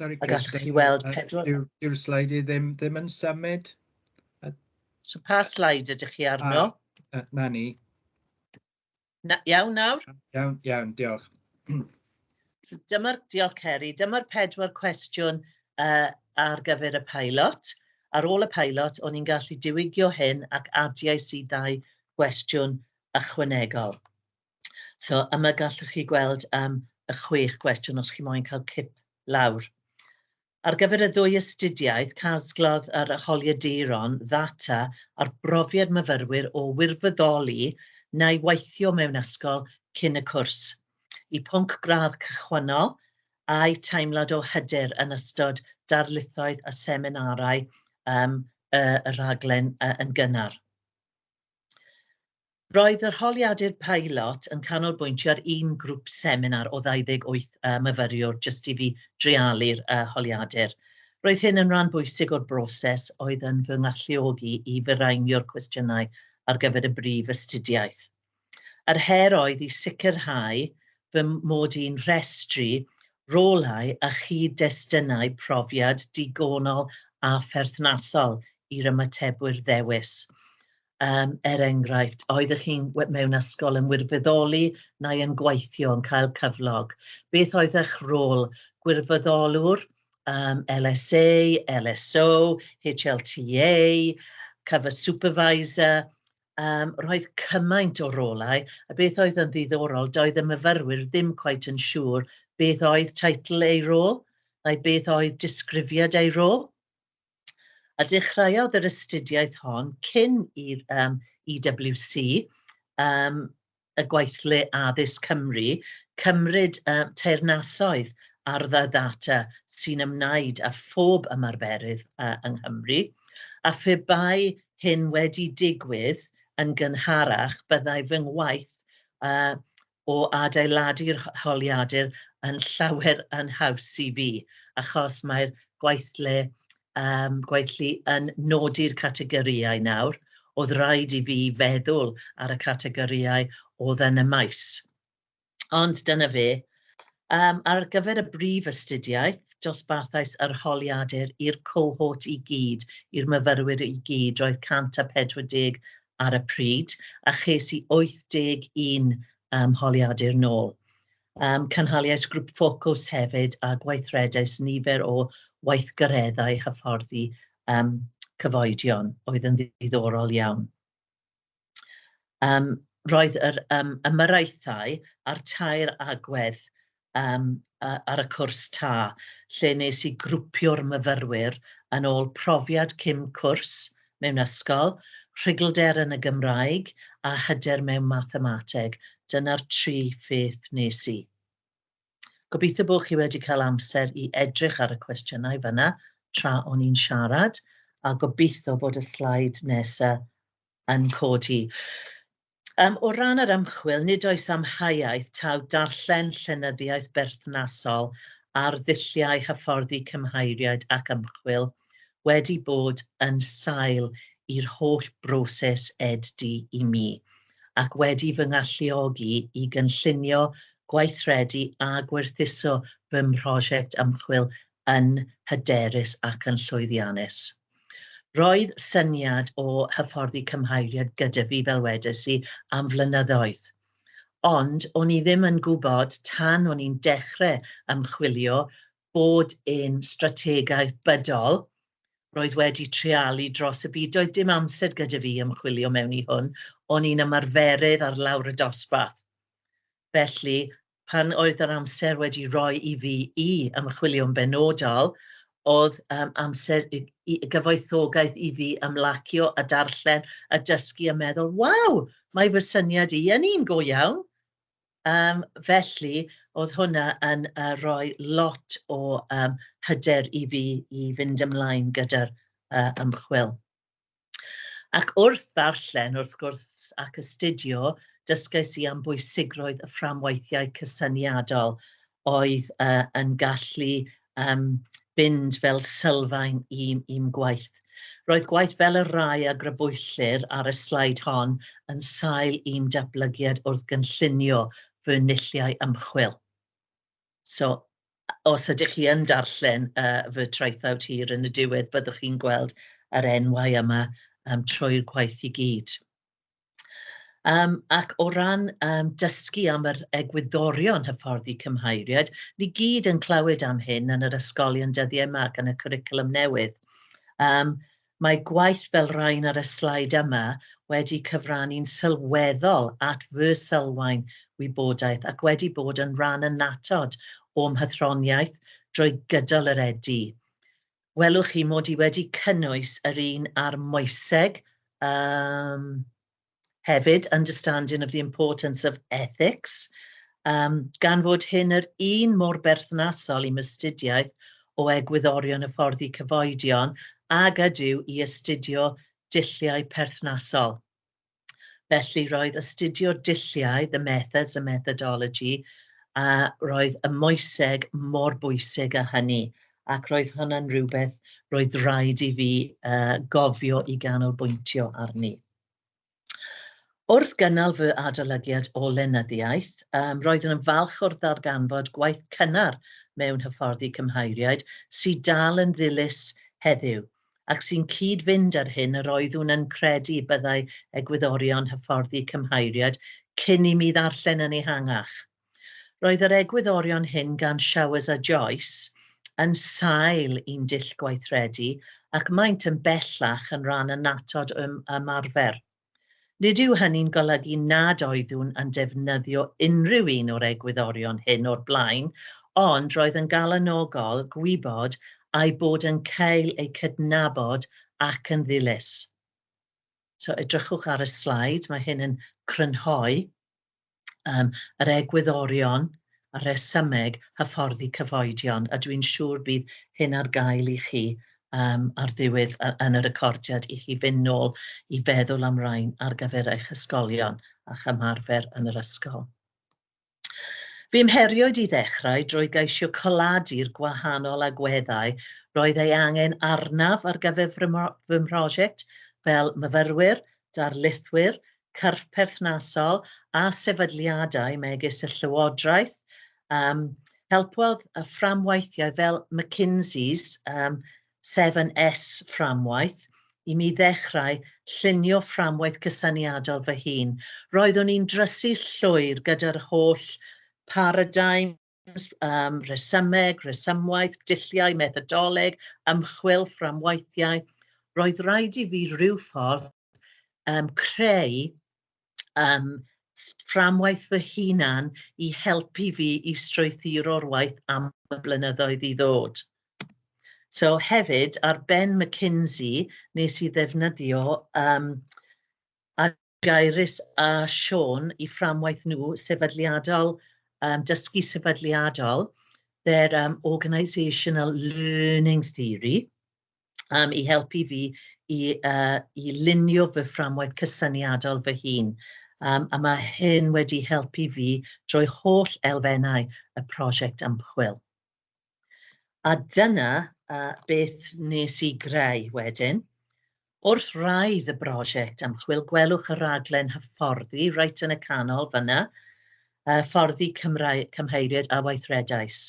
Sorry, a gallwch chi weld pedwar... Yw'r sleid i ddim, ddim yn symud? So pa sleid ydych chi arno? A, a, na ni. Na, iawn nawr? Iawn, iawn, diolch. So dyma'r... Diolch Ceri. Dyma'r pedwar cwestiwn uh, ar gyfer y pilot. Ar ôl y pilot, o'n i'n gallu diwygio hyn ac adiais i ddau gwestiwn ychwanegol. So yma gallwch chi gweld um, y chwech gwestiwn os chi moyn cael cip lawr. Ar gyfer y ddwy astudiaeth, casglodd yr holiaduron ddata ar brofiad myfyrwyr o wirfoddoli neu weithio mewn ysgol cyn y cwrs, eu pwnc gradd cychwynnol, a'u teimlad o hyder yn ystod darlithoedd a seminarau y rhaglen yn gynnar. Roedd yr holiadur peilot yn canolbwyntio ar un grwp seminar o 28 yy myfyriwr jyst i fi dreialu'r yy holiadur. Roedd hyn yn ran bwysig o'r broses oedd yn fy ngalluogi i firaenio'r cwestiynau ar gyfer y brif astudiaeth. Yr her oedd i sicrhau fy mod i'n rhestru rolau a chyd-destunau profiad digonol a pherthnasol i'r ymatebwyr ddewis. Yym, er enghraifft, oeddech chi'n we- mewn ysgol yn wirfoddoli neu yn gweithio yn cael cyflog. Beth oedd eich rôl? Gwirfoddolwr, um, LSA, LSO, HLTA, cover supervisor, um, roedd cymaint o rolau, a beth oedd yn ddiddorol, doedd y myfyrwyr ddim cweit yn siŵr beth oedd teitl ei rôl, neu beth oedd disgrifiad ei rôl. A dechreuodd yr astudiaeth hon cyn i'r um, EWC, um, y gweithle addysg Cymru, cymryd uh, teyrnasoedd ar dda ddata sy'n ymwneud â phob ymarferydd uh, yng Nghymru, a phe bai hyn wedi digwydd yn gynharach, byddai fy ngwaith uh, o adeiladu'r holiadur yn llawer yn haws i fi, achos mae'r gweithle yym gweithlu yn nodi'r categorïau nawr, oedd raid i fi feddwl ar y categorïau oedd yn y maes. Ond dyna fe. Um, ar gyfer y brif astudiaeth, dosbarthais yr holiadur i'r cohort i gyd, i'r myfyrwyr i gyd, roedd 140 ar y pryd, a ches i 81 um, holiadur nôl. Um, cynhaliais grŵp ffocws hefyd a gweithredais nifer o weithgareddau hyfforddi um, cyfoedion oedd yn ddiddorol iawn. Um, roedd yr um, ymyraethau a'r tair agwedd um, ar y cwrs ta, lle nes i grwpio'r myfyrwyr yn ôl profiad cym cwrs mewn ysgol, rhugylder yn y Gymraeg a hyder mewn mathemateg. Dyna'r tri pheth nes i. Gobeithio bod chi wedi cael amser i edrych ar y cwestiynau fyna tra o'n i'n siarad, a gobeithio bod y slaid nesaf yn codi. Yym, o ran yr ymchwil, nid oes amheuaeth taw darllen llenyddiaeth berthnasol ar ddulliau hyfforddi cymheiriaid ac ymchwil wedi bod yn sail i'r holl broses ed-d i mi, ac wedi fy ngalluogi i gynllunio, gweithredu a gwerthuso fy mhrosiect ymchwil yn hyderus ac yn llwyddiannus. Roedd syniad o hyfforddi cymheiriad gyda fi, fel wedes i, am flynyddoedd. Ond o'n i ddim yn gwybod tan o'n i'n dechrau ymchwilio bod yn strategaeth bydol. Roedd wedi treialu dros y byd. Doedd dim amser gyda fi ymchwilio mewn i hwn. O'n i'n ymarferydd ar lawr y dosbarth. Felly, pan oedd yr amser wedi rhoi i fi i ymchwilio'n benodol, oedd um, amser i, i gyfoethogaeth i fi ymlacio a darllen a dysgu a meddwl, waw, mae fy syniad i yn un go iawn. Um, felly, oedd hwnna yn uh, rhoi lot o um, hyder i fi i fynd ymlaen gyda'r uh, ymchwil. Ac wrth ddarllen, wrth gwrs, ac astudio, dysgais i am bwysigrwydd y fframweithiau cysyniadol oedd uh, yn gallu um, fynd fel sylfaen i'm, i'm gwaith. Roedd gwaith fel y rai a grybwyllir ar y slaid hon yn sail i'm datblygiad wrth gynllunio fy nulliau ymchwil. So os ydych chi yn darllen yy fy traethawd hir yn y diwedd, byddwch chi'n gweld yr enwau yma yym trwy'r gwaith i gyd. Yym ac o ran yym dysgu am yr egwyddorion hyfforddi cymheiriaid, ni gyd yn clywed am hyn yn yr ysgolion dyddiau 'ma ac yn y cwricwlwm newydd. Yym Mae gwaith fel rain ar y slaid yma wedi cyfrannu'n sylweddol at fy sylfaen wybodaeth ac wedi bod yn rhan annatod o'm hathroniaeth drwy gydol yr EDU. Welwch chi mod i wedi cynnwys yr un ar moeseg, yym, Hefyd, understanding of the importance of ethics, um, gan fod hyn yr un mor berthnasol i mystudiaeth o egwyddorion y ffordd i cyfoedion ag ydyw i astudio dulliau perthnasol. Felly, roedd astudio dulliau, the methods and methodology, a roedd y moeseg mor bwysig â hynny, ac roedd hwnna'n rhywbeth roedd rhaid i fi uh, gofio i ganolbwyntio arni. Wrth gynnal fy adolygiad o lenyddiaeth, um, roeddwn yn falch o'r ddarganfod gwaith cynnar mewn hyfforddi cymheiriaid sydd dal yn ddilys heddiw, ac sy'n cyd-fynd â'r hyn yr oeddwn yn credu byddai egwyddorion hyfforddi cymheiriaid cyn i mi ddarllen yn ehangach. Roedd yr egwyddorion hyn gan Showers a Joyce yn sail i'n dull gweithredu ac maent yn bellach yn rhan annatod o'm ymarfer. Nid yw hynny'n golygu nad oeddwn yn defnyddio unrhyw un o'r egwyddorion hyn o'r blaen, ond roedd yn galonogol gwybod a'u bod yn cael eu cydnabod ac yn ddilys. So, edrychwch ar y sleid, mae hyn yn crynhoi yym yr egwyddorion a'r rhesymeg hyfforddi cyfoedion, a dwi'n siŵr bydd hyn ar gael i chi um, ar ddiwedd yn y recordiad i chi fynd nôl i feddwl am rain ar gyfer eich ysgolion a'ch ymarfer yn yr ysgol. Fy mheriod i ddechrau drwy geisio coladi'r gwahanol agweddau roedd ei angen arnaf ar gyfer fy mhrosiect fel myfyrwyr, darlithwyr, cyrff perthnasol a sefydliadau megis y Llywodraeth. Um, helpodd y fframwaithiau fel McKinsey's um, 7S fframwaith i mi ddechrau llunio fframwaith cysyniadol fy hun. Roeddwn i'n drysu llwyr gyda'r holl paradigm yym rhesymeg, rhesymwaith, dulliau, methodoleg, ymchwil, fframwaithiau, roedd raid i fi ryw ffordd yym creu yym fframwaith fy hunan i helpu fi i strwythuro'r waith am y blynyddoedd i ddod. So hefyd, ar ben McKinsey, nes i ddefnyddio yym Gyris a Siôn i fframwaith nhw sefydliadol, um, dysgu sefydliadol, their um, organisational learning theory, um, i helpu fi i, uh, i lunio fy fframwaith cysyniadol fy hun. Um, a mae hyn wedi helpu fi drwy holl elfennau y prosiect ymchwil. A dyna uh, beth nes i greu wedyn. Wrth raidd y brosiect ymchwil, gwelwch y raglen hyfforddi reit yn y canol fyna, uh, fforddi Cymrae, cymheiriaid a weithredais.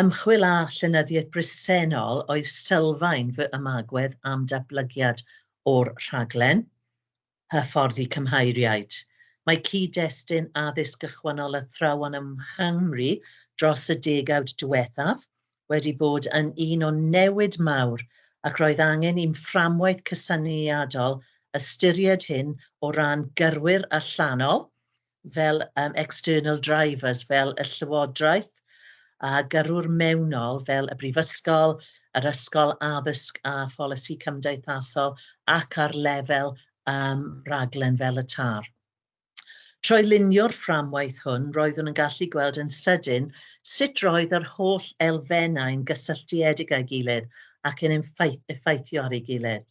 Ymchwil a llenyddiaeth bresennol oedd sylfaen fy ymagwedd am datblygiad o'r rhaglen. hyfforddi cymheiriaid. Mae cyd-destun addysg gychwynnol athrawon yng Nghymru dros y degawd diwethaf wedi bod yn un o newid mawr ac roedd angen i'm fframwaith cysyniadol ystyried hyn o ran gyrwyr allanol fel um, external drivers, fel y Llywodraeth, a gyrrwr mewnol fel y Brifysgol, yr Ysgol Addysg a Pholisi Cymdeithasol ac ar lefel um, raglen fel y TAR. Trwy lunio'r fframwaith hwn, roeddwn yn gallu gweld yn sydyn sut roedd yr holl elfennau'n gysylltiedig â'i gilydd ac yn effeithio ar ei gilydd.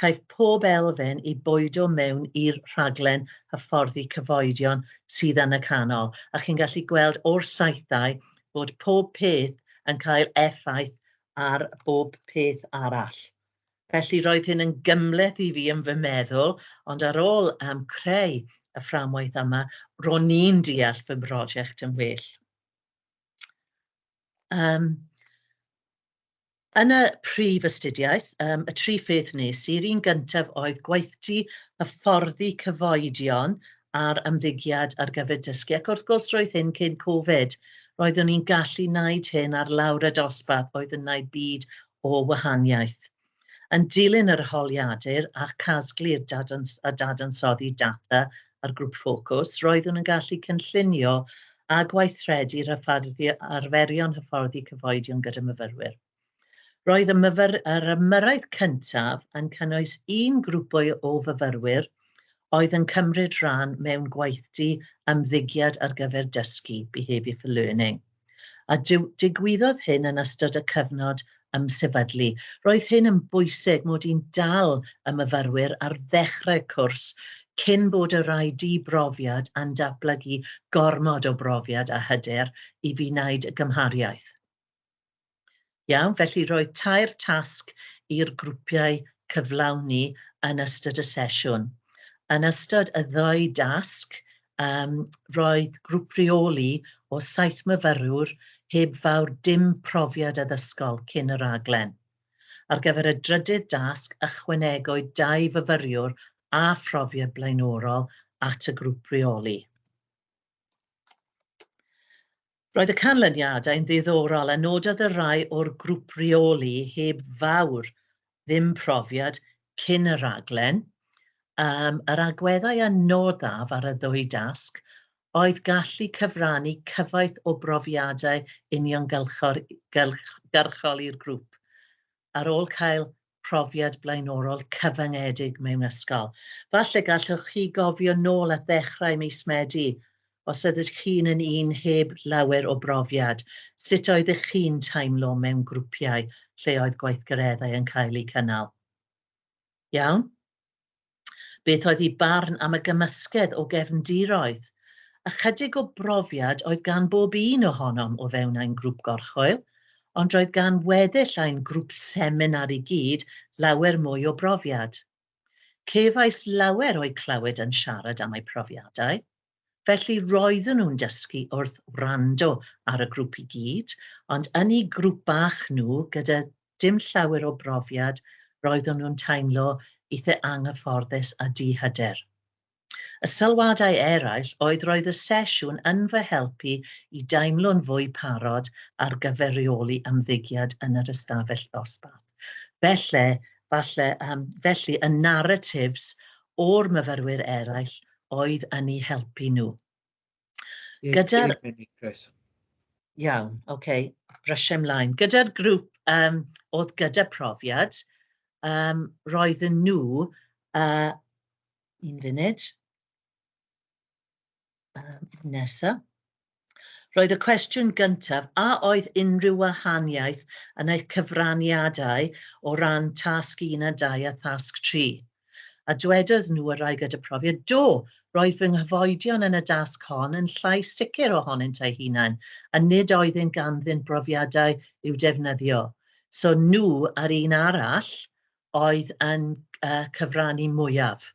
caiff pob elfen ei bwydo mewn i'r rhaglen hyfforddi cyfoedion sydd yn y canol, a chi'n gallu gweld o'r saethau bod pob peth yn cael effaith ar bob peth arall. Felly roedd hyn yn gymhleth i fi yn fy meddwl, ond ar ôl um, creu y fframwaith yma, ro'n i'n deall fy mhrosiect yn well. Um, Yn y prif astudiaeth, um, y tri pheth nes i'r un gyntaf oedd gweithdy hyfforddi cyfoedion ar ymddygiad ar gyfer dysgu, ac wrth gwrs roedd hyn cyn Covid. Roeddwn i'n gallu wneud hyn ar lawr y dosbarth, oedd yn wneud byd o wahaniaeth. Yn dilyn yr holiadur a casglu'r dadans a dadansoddi data a'r grŵp ffocws, roeddwn yn gallu cynllunio a gweithredu'r hyfforddi arferion hyfforddi cyfoedion gyda myfyrwyr. Roedd y myfyr, yr ymyrraeth cyntaf yn cynnwys un grwpwy o fyfyrwyr oedd yn cymryd rhan mewn gweithdy ymddygiad ar gyfer dysgu, behaviour for learning. A digwyddodd hyn yn ystod y cyfnod ymsefydlu. Roedd hyn yn bwysig mod i'n dal y myfyrwyr ar ddechrau cwrs cyn bod y rhai di-brofiad a'n datblygu gormod o brofiad a hyder i fi wneud y gymhariaeth. Iawn, felly roedd tair tasg i'r grwpiau cyflawni yn ystod y sesiwn. Yn ystod y ddau dasg, um, roedd grŵp reoli o saith myfyrwr heb fawr dim profiad addysgol cyn y raglen. Ar gyfer y drydydd dasg, ychwanegwyd dau fyfyriwr a phrofiad blaenorol at y grŵp reoli. Roedd y canlyniadau yn ddiddorol a nododd y rhai o'r grwp reoli heb fawr ddim profiad cyn y rhaglen, um, yr agweddau a noddaf ar y ddwy dasg oedd gallu cyfrannu cyfoeth o brofiadau uniongyrchol i'r grwp ar ôl cael profiad blaenorol cyfyngedig mewn ysgol. Falle gallwch chi gofio nôl at ddechrau mis Medi, os ydych chi'n yn un heb lawer o brofiad, sut oeddech chi'n teimlo mewn grwpiau lle oedd gweithgareddau yn cael eu cynnal? Iawn? Beth oedd ei barn am y gymysgedd o gefndiroedd? Ychydig o brofiad oedd gan bob un ohonom o fewn ein grŵp gorchwyl, ond roedd gan weddill ein grŵp seminar i gyd lawer mwy o brofiad. Cefais lawer o'u clywed yn siarad am eu profiadau. Felly roeddwn nhw'n dysgu wrth wrando ar y grwp i gyd, ond yn eu grwp bach nhw, gyda dim llawer o brofiad, roeddwn nhw'n teimlo eitha' anghyfforddus a di-hyder. Y sylwadau eraill oedd roedd y sesiwn yn fy helpu i deimlo'n fwy parod ar gyfer rheoli ymddygiad yn yr ystafell ddosbarth. Felly, falle, yym, felly y narratives o'r myfyrwyr eraill oedd yn eu helpu nhw. Gyda'r... Iawn, oce, okay. brysiau ymlaen. Gyda'r grŵp um, oedd gyda profiad, um, roedden nhw, uh, un funud, um, nesa, Roedd y cwestiwn gyntaf, a oedd unrhyw wahaniaeth yn eich cyfraniadau o ran tasg 1 a 2 a thasg 3? A dwedodd nhw, y rai gyda profiad, do, roedd fy nghyfoedion yn y dasg hon yn llai sicr ohonynt eu hunain, a nid oeddynt ganddynt brofiadau i'w defnyddio. So nhw a'r un arall oedd yn uh, cyfrannu mwyaf.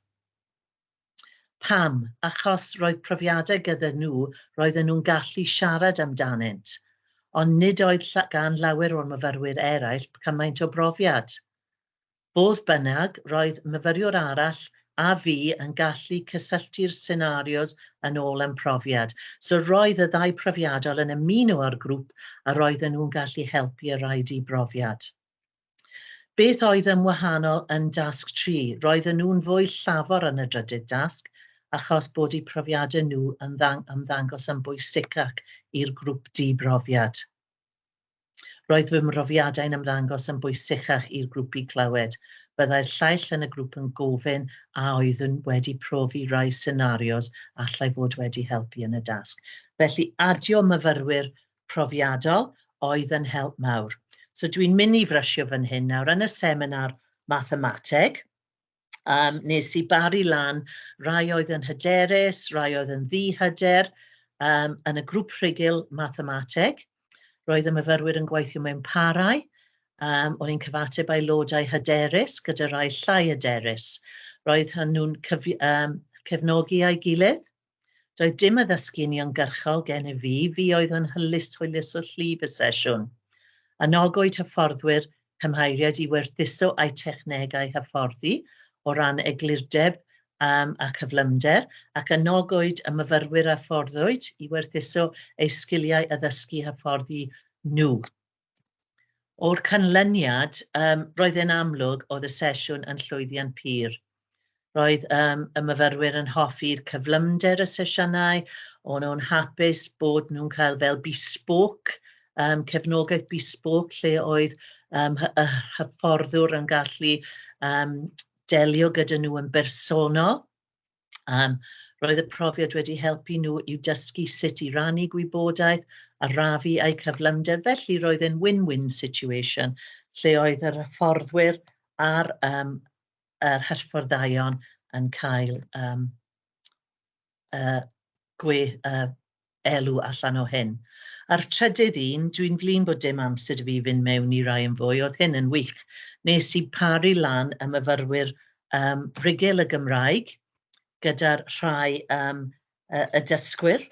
Pam? Achos roedd profiadau gyda nhw roedden nhw'n gallu siarad amdanynt, ond nid oedd gan lawer o'r myfyrwyr eraill cymaint o brofiad. Fodd bynnag, roedd myfyriwr arall a fi yn gallu cysylltu'r senarios yn ôl â'n profiad. So roedd y ddau profiadol yn ymuno â'r grŵp a roedden nhw'n gallu helpu y rhai di-brofiad. Beth oedd yn wahanol yn dasg tri? Roedden nhw'n fwy llafar yn y drydydd dasg achos bod eu profiadau nhw yn ymddangos yn bwysicac i'r grwp di-brofiad. Roedd fy mhrofiadau'n ymddangos yn bwysicach i'r grwp i clywed. Byddai'r llaill yn y grwp yn gofyn a oeddwn wedi profi rai senarios allai fod wedi helpu yn y dasg. Felly adio myfyrwyr profiadol oedd yn help mawr. So dwi'n mynd i frysio fan hyn nawr yn y seminar mathemateg. Um, nes i bari lan rai oedd yn hyderus, rai oedd yn ddihyder um, yn y grŵp rhugl mathemateg. Roedd y myfyrwyr yn gweithio mewn parau. Um, o'n i'n cyfateb aelodau hyderus gyda rai llai hyderus. Roedd hynny'n um, cefnogi a'i gilydd. Doedd dim addysgu uniongyrchol gennyf fi, fi oedd yn hylus hwyluso llif y sesiwn. Anogwyd hyfforddwyr cymheiriaid i werthuso eu technegau hyfforddi o ran eglurdeb um, a cyflymder, ac anogwyd y myfyrwyr a fforddwyd i werthuso eu sgiliau addysgu hyfforddi nhw. O'r canlyniad, um, roedd e'n amlwg oedd y sesiwn yn llwyddiant pur. Roedd um, y myfyrwyr yn hoffi'r cyflymder y sesiynau, o'n nhw'n hapus bod nhw'n cael fel bespoke, um, cefnogaeth bespoke lle oedd um, y hyfforddwr yn gallu um, delio gyda nhw yn bersonol. Yym roedd y profiad wedi helpu nhw i'w dysgu sut i rannu gwybodaeth, arafu a'u cyflymder, felly roedd e'n win-win situation lle oedd yr hyfforddwyr a'r yym yr hyfforddaion yn cael yym yy gwe- yy elw allan o hyn. A'r trydydd un, dwi'n flin bod dim amser i fi fynd mewn i rai yn fwy, oedd hyn yn wych. Nes i paru lan y myfyrwyr um, rigil y Gymraeg gyda'r rhai um, y, y dysgwyr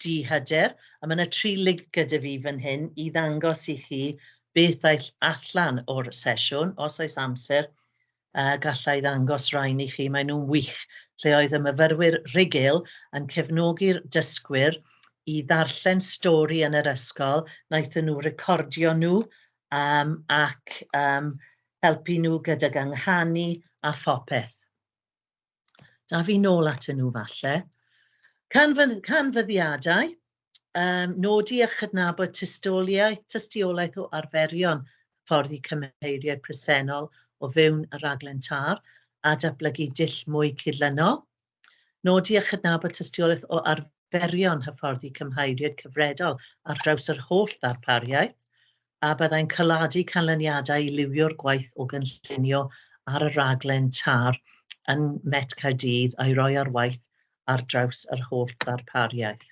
di hyder, a mae yna tri lig gyda fi fan hyn i ddangos i chi beth aill allan o'r sesiwn, os oes amser, a galla i ddangos rhain i chi, maen nhw'n wych, lle oedd y myfyrwyr rhugl yn cefnogi'r dysgwyr i ddarllen stori yn yr ysgol, wnaethon nhw recordio nhw um, ac um, helpu nhw gydag ynghanu a phopeth. Da fi nôl atyn nhw falle. Canfyd canfyddiadau, um, nodi a chydnabod tystiolaeth, tystiolaeth o arferion ffordd i cymheiriau presennol o fewn y raglen tar a datblygu dull mwy cydlynol. Nodi a chydnabod tystiolaeth o arferion hyfforddi cymheiriaid cyfredol ar draws yr holl ddarpariaeth. a byddai'n caladu canlyniadau i liwio'r gwaith o gynllunio ar y rhaglen TAR yn Met Caerdydd a'i roi ar waith ar draws yr holl ddarpariaeth.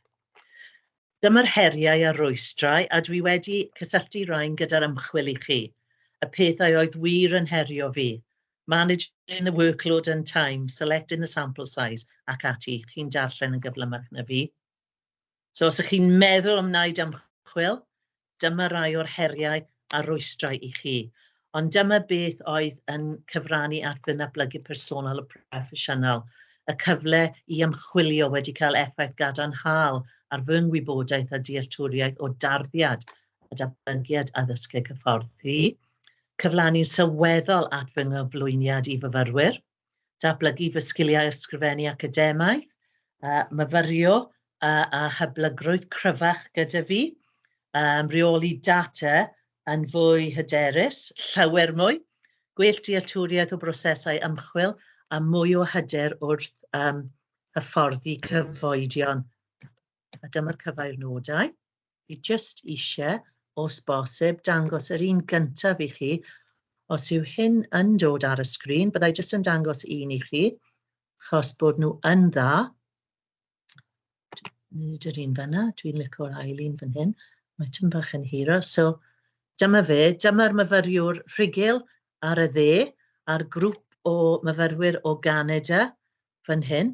Dyma'r heriau a'r rwystrau, a dwi wedi cysylltu rhain gyda'r ymchwil i chi, y pethau oedd wir yn herio fi, managing the workload and time, selecting the sample size, ac ati, chi'n darllen yn gyflymach na fi. So os ych chi'n meddwl am wneud ymchwil, dyma rai o'r heriau a rwystrau i chi. Ond dyma beth oedd yn cyfrannu at fy nablygu personol a proffesiynol, y cyfle i ymchwilio wedi cael effaith gadarnhaol ar fy ngwybodaeth a dealltwriaeth o darddiad a datblygiad addysgeg hyfforddi, cyflawni'n sylweddol at fy nghyflwyniad i fyfyrwyr, dablygu fy sgiliau ysgrifennu academaidd, uh, myfyrio uh, a hyblygrwydd cryfach gyda fi, um, reoli data yn fwy hyderus, llawer mwy, gwell dealltwriaeth o brosesau ymchwil a mwy o hyder wrth um, hyfforddi cyfoedion. a dyma'r cyfairnodau. Fi jyst eisiau, os bosib, dangos yr un gyntaf i chi. Os yw hyn yn dod ar y sgrin, byddai jyst yn dangos un i chi, chos bod nhw yn dda. Nid yr un fyna, dwi'n licio'r ail un fan hyn. Mae tyn bach yn hiro, so dyma fe, dyma'r myfyriwr rhugl ar y dde, a'r grŵp o myfyrwyr o Ganada fan hyn.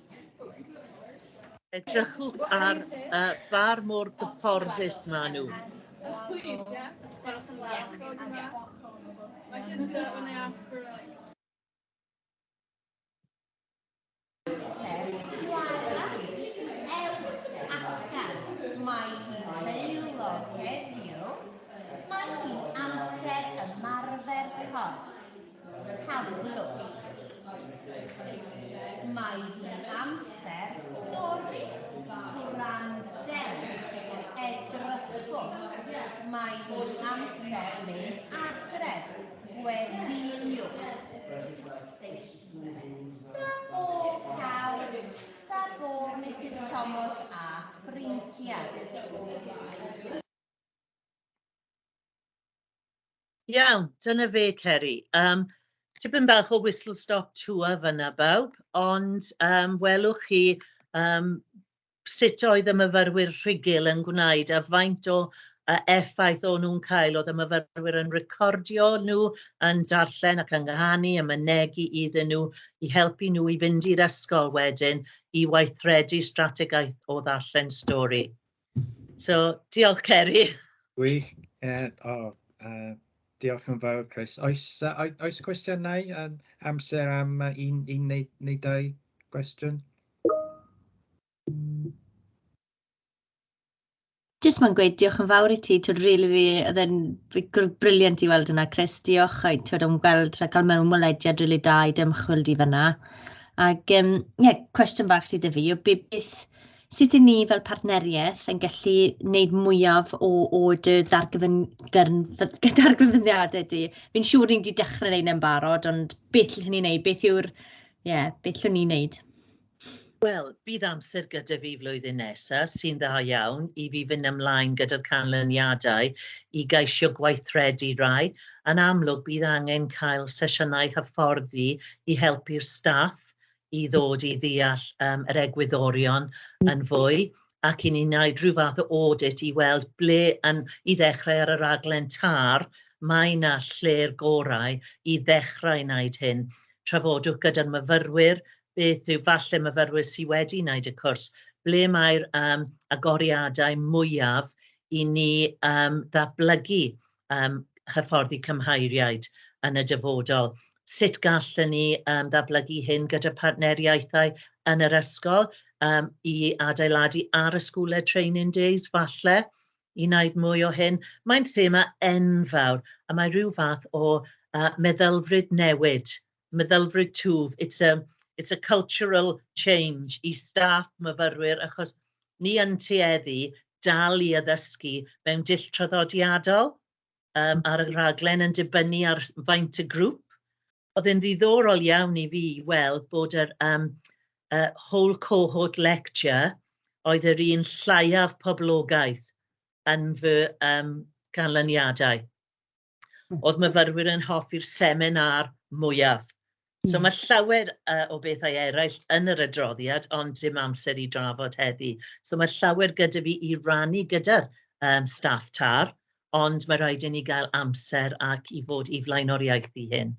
Edrychwch ar y bar mor gyfforddus maen nhw. Mae hi'n heulog heddiw. Mae hi'n amser ymarfer corff. Taflwch. Mae hi amser stori gwrandewch, edrychwch. Mae hi amser mynd adref, gweddïwch. Da bo pawb, da bo Mrs Thomas a ffrindiau. Iawn, dyna fe Ceri. Yym, tipyn bach o whistle stop tour fan'na bawb, ond yym welwch chi yym sut oedd y myfyrwyr rhugl yn gwneud a faint o yy effaith o'n nhw'n cael, oedd y myfyrwyr yn recordio nhw, yn darllen ac yn nghanu, yn mynegi iddyn nhw i helpu nhw i fynd i'r ysgol wedyn i weithredu strategaeth o ddarllen stori. So, diolch Ceri. Gwych. Uh, oh, uh, diolch yn fawr, Chris. Oes, uh, oes cwestiynau um, amser am uh, un, un neu, neu dau gwestiwn? Jyst mae'n gweud diolch yn fawr i ti, ti'n rili, really, really, oedd e'n briliant i weld yna, Chris, diolch, a ti'n o'n gweld a cael mewn molediad rili really da i dymchwil di fyna. Ac, ie, um, yeah, cwestiwn bach sydd y fi, beth, Sut i ni fel partneriaeth yn gallu wneud mwyaf o o dy ddargyfyn- gyrn- dy ddarganfyddiadau di? Fi'n siŵr ni 'di dechrau wneud e'n barod, ond beth allwn ni wneud? Beth yw'r... ie, beth allwn ni wneud? Wel, bydd amser gyda fi flwyddyn nesa sy'n dda iawn i fi fynd ymlaen gyda'r canlyniadau i geisio gweithredu rai. Yn amlwg, bydd angen cael sesiynau hyfforddi i helpu'r staff i ddod i ddeall yym yr egwyddorion yn fwy ac i ni wneud rhyw fath o audit i weld ble yn... i ddechrau ar y raglen TAR, mae 'na lle'r gorau i ddechrau wneud hyn. Trafodwch gyda'r myfyrwyr beth yw... falle myfyrwyr sy wedi wneud y cwrs, ble mae'r yym agoriadau mwyaf i ni yym ddatblygu yym hyfforddi cymhairiaid yn y dyfodol. Sut gallen ni yym ddatblygu hyn gyda partneriaethau yn yr ysgol yym i adeiladu ar y School Led Training Days falle i wneud mwy o hyn. Mae'n thema enfawr a mae rhyw fath o yy meddylfryd newid meddylfryd twf, it's a, it's a cultural change i staff myfyrwyr achos ni yn tueddu dal i addysgu mewn dull traddodiadol um, ar y rhaglen yn dibynnu ar faint y grŵp. Oedd yn ddiddorol iawn i fi weld bod yr um, uh, whole cohort lecture oedd yr un lleiaf poblogaeth yn fy um, canlyniadau. oedd myfyrwyr yn hoffi'r seminar mwyaf. So hmm. mae llawer uh, o bethau eraill yn yr adroddiad, ond dim amser i drafod heddi. So mae llawer gyda fi i rannu gyda'r um, staff tar, ond mae rhaid i ni gael amser ac i fod i flaenoriaethu hyn.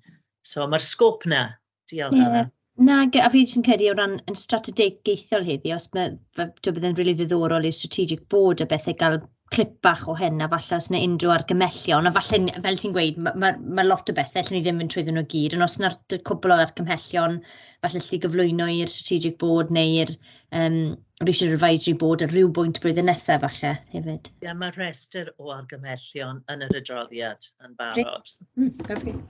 So mae'r sgôp na, Diolch yeah. Anna. Nag, a fi jyst yn credu o ran yn strategaethol heddi, os mae, to bydd yn rili ddiddorol i'r strategic board a bethau gael clip bach o hyn, a falle os yna unrhyw argymellion, a falle, fel ti'n gweud, mae ma, ma lot o bethau lle ni ddim yn trwyddyn nhw gyd, ond os yna'r cwbl o argymhellion, falle lle gyflwyno i'r strategic board neu'r um, Research Advisory Board ar rhyw bwynt blwyddyn nesaf falle hefyd. Ie, yeah, mae rhestr o argymhellion yn yr adroddiad yn barod. Great. Mm,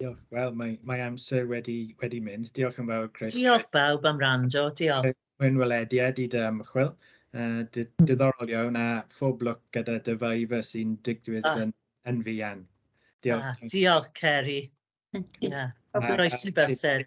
Diolch. Wel, mae, mae amser wedi, wedi mynd. Diolch yn fawr, Chris. Diolch bawb am rando. Diolch. Mwyn welediad i dy ymchwil. Uh, diddorol iawn a phob lwc gyda dy faifa sy'n digwydd ah. yn, yn fuan. Diolch. Ah, diolch, Ceri. Yeah. Croeso bysedd.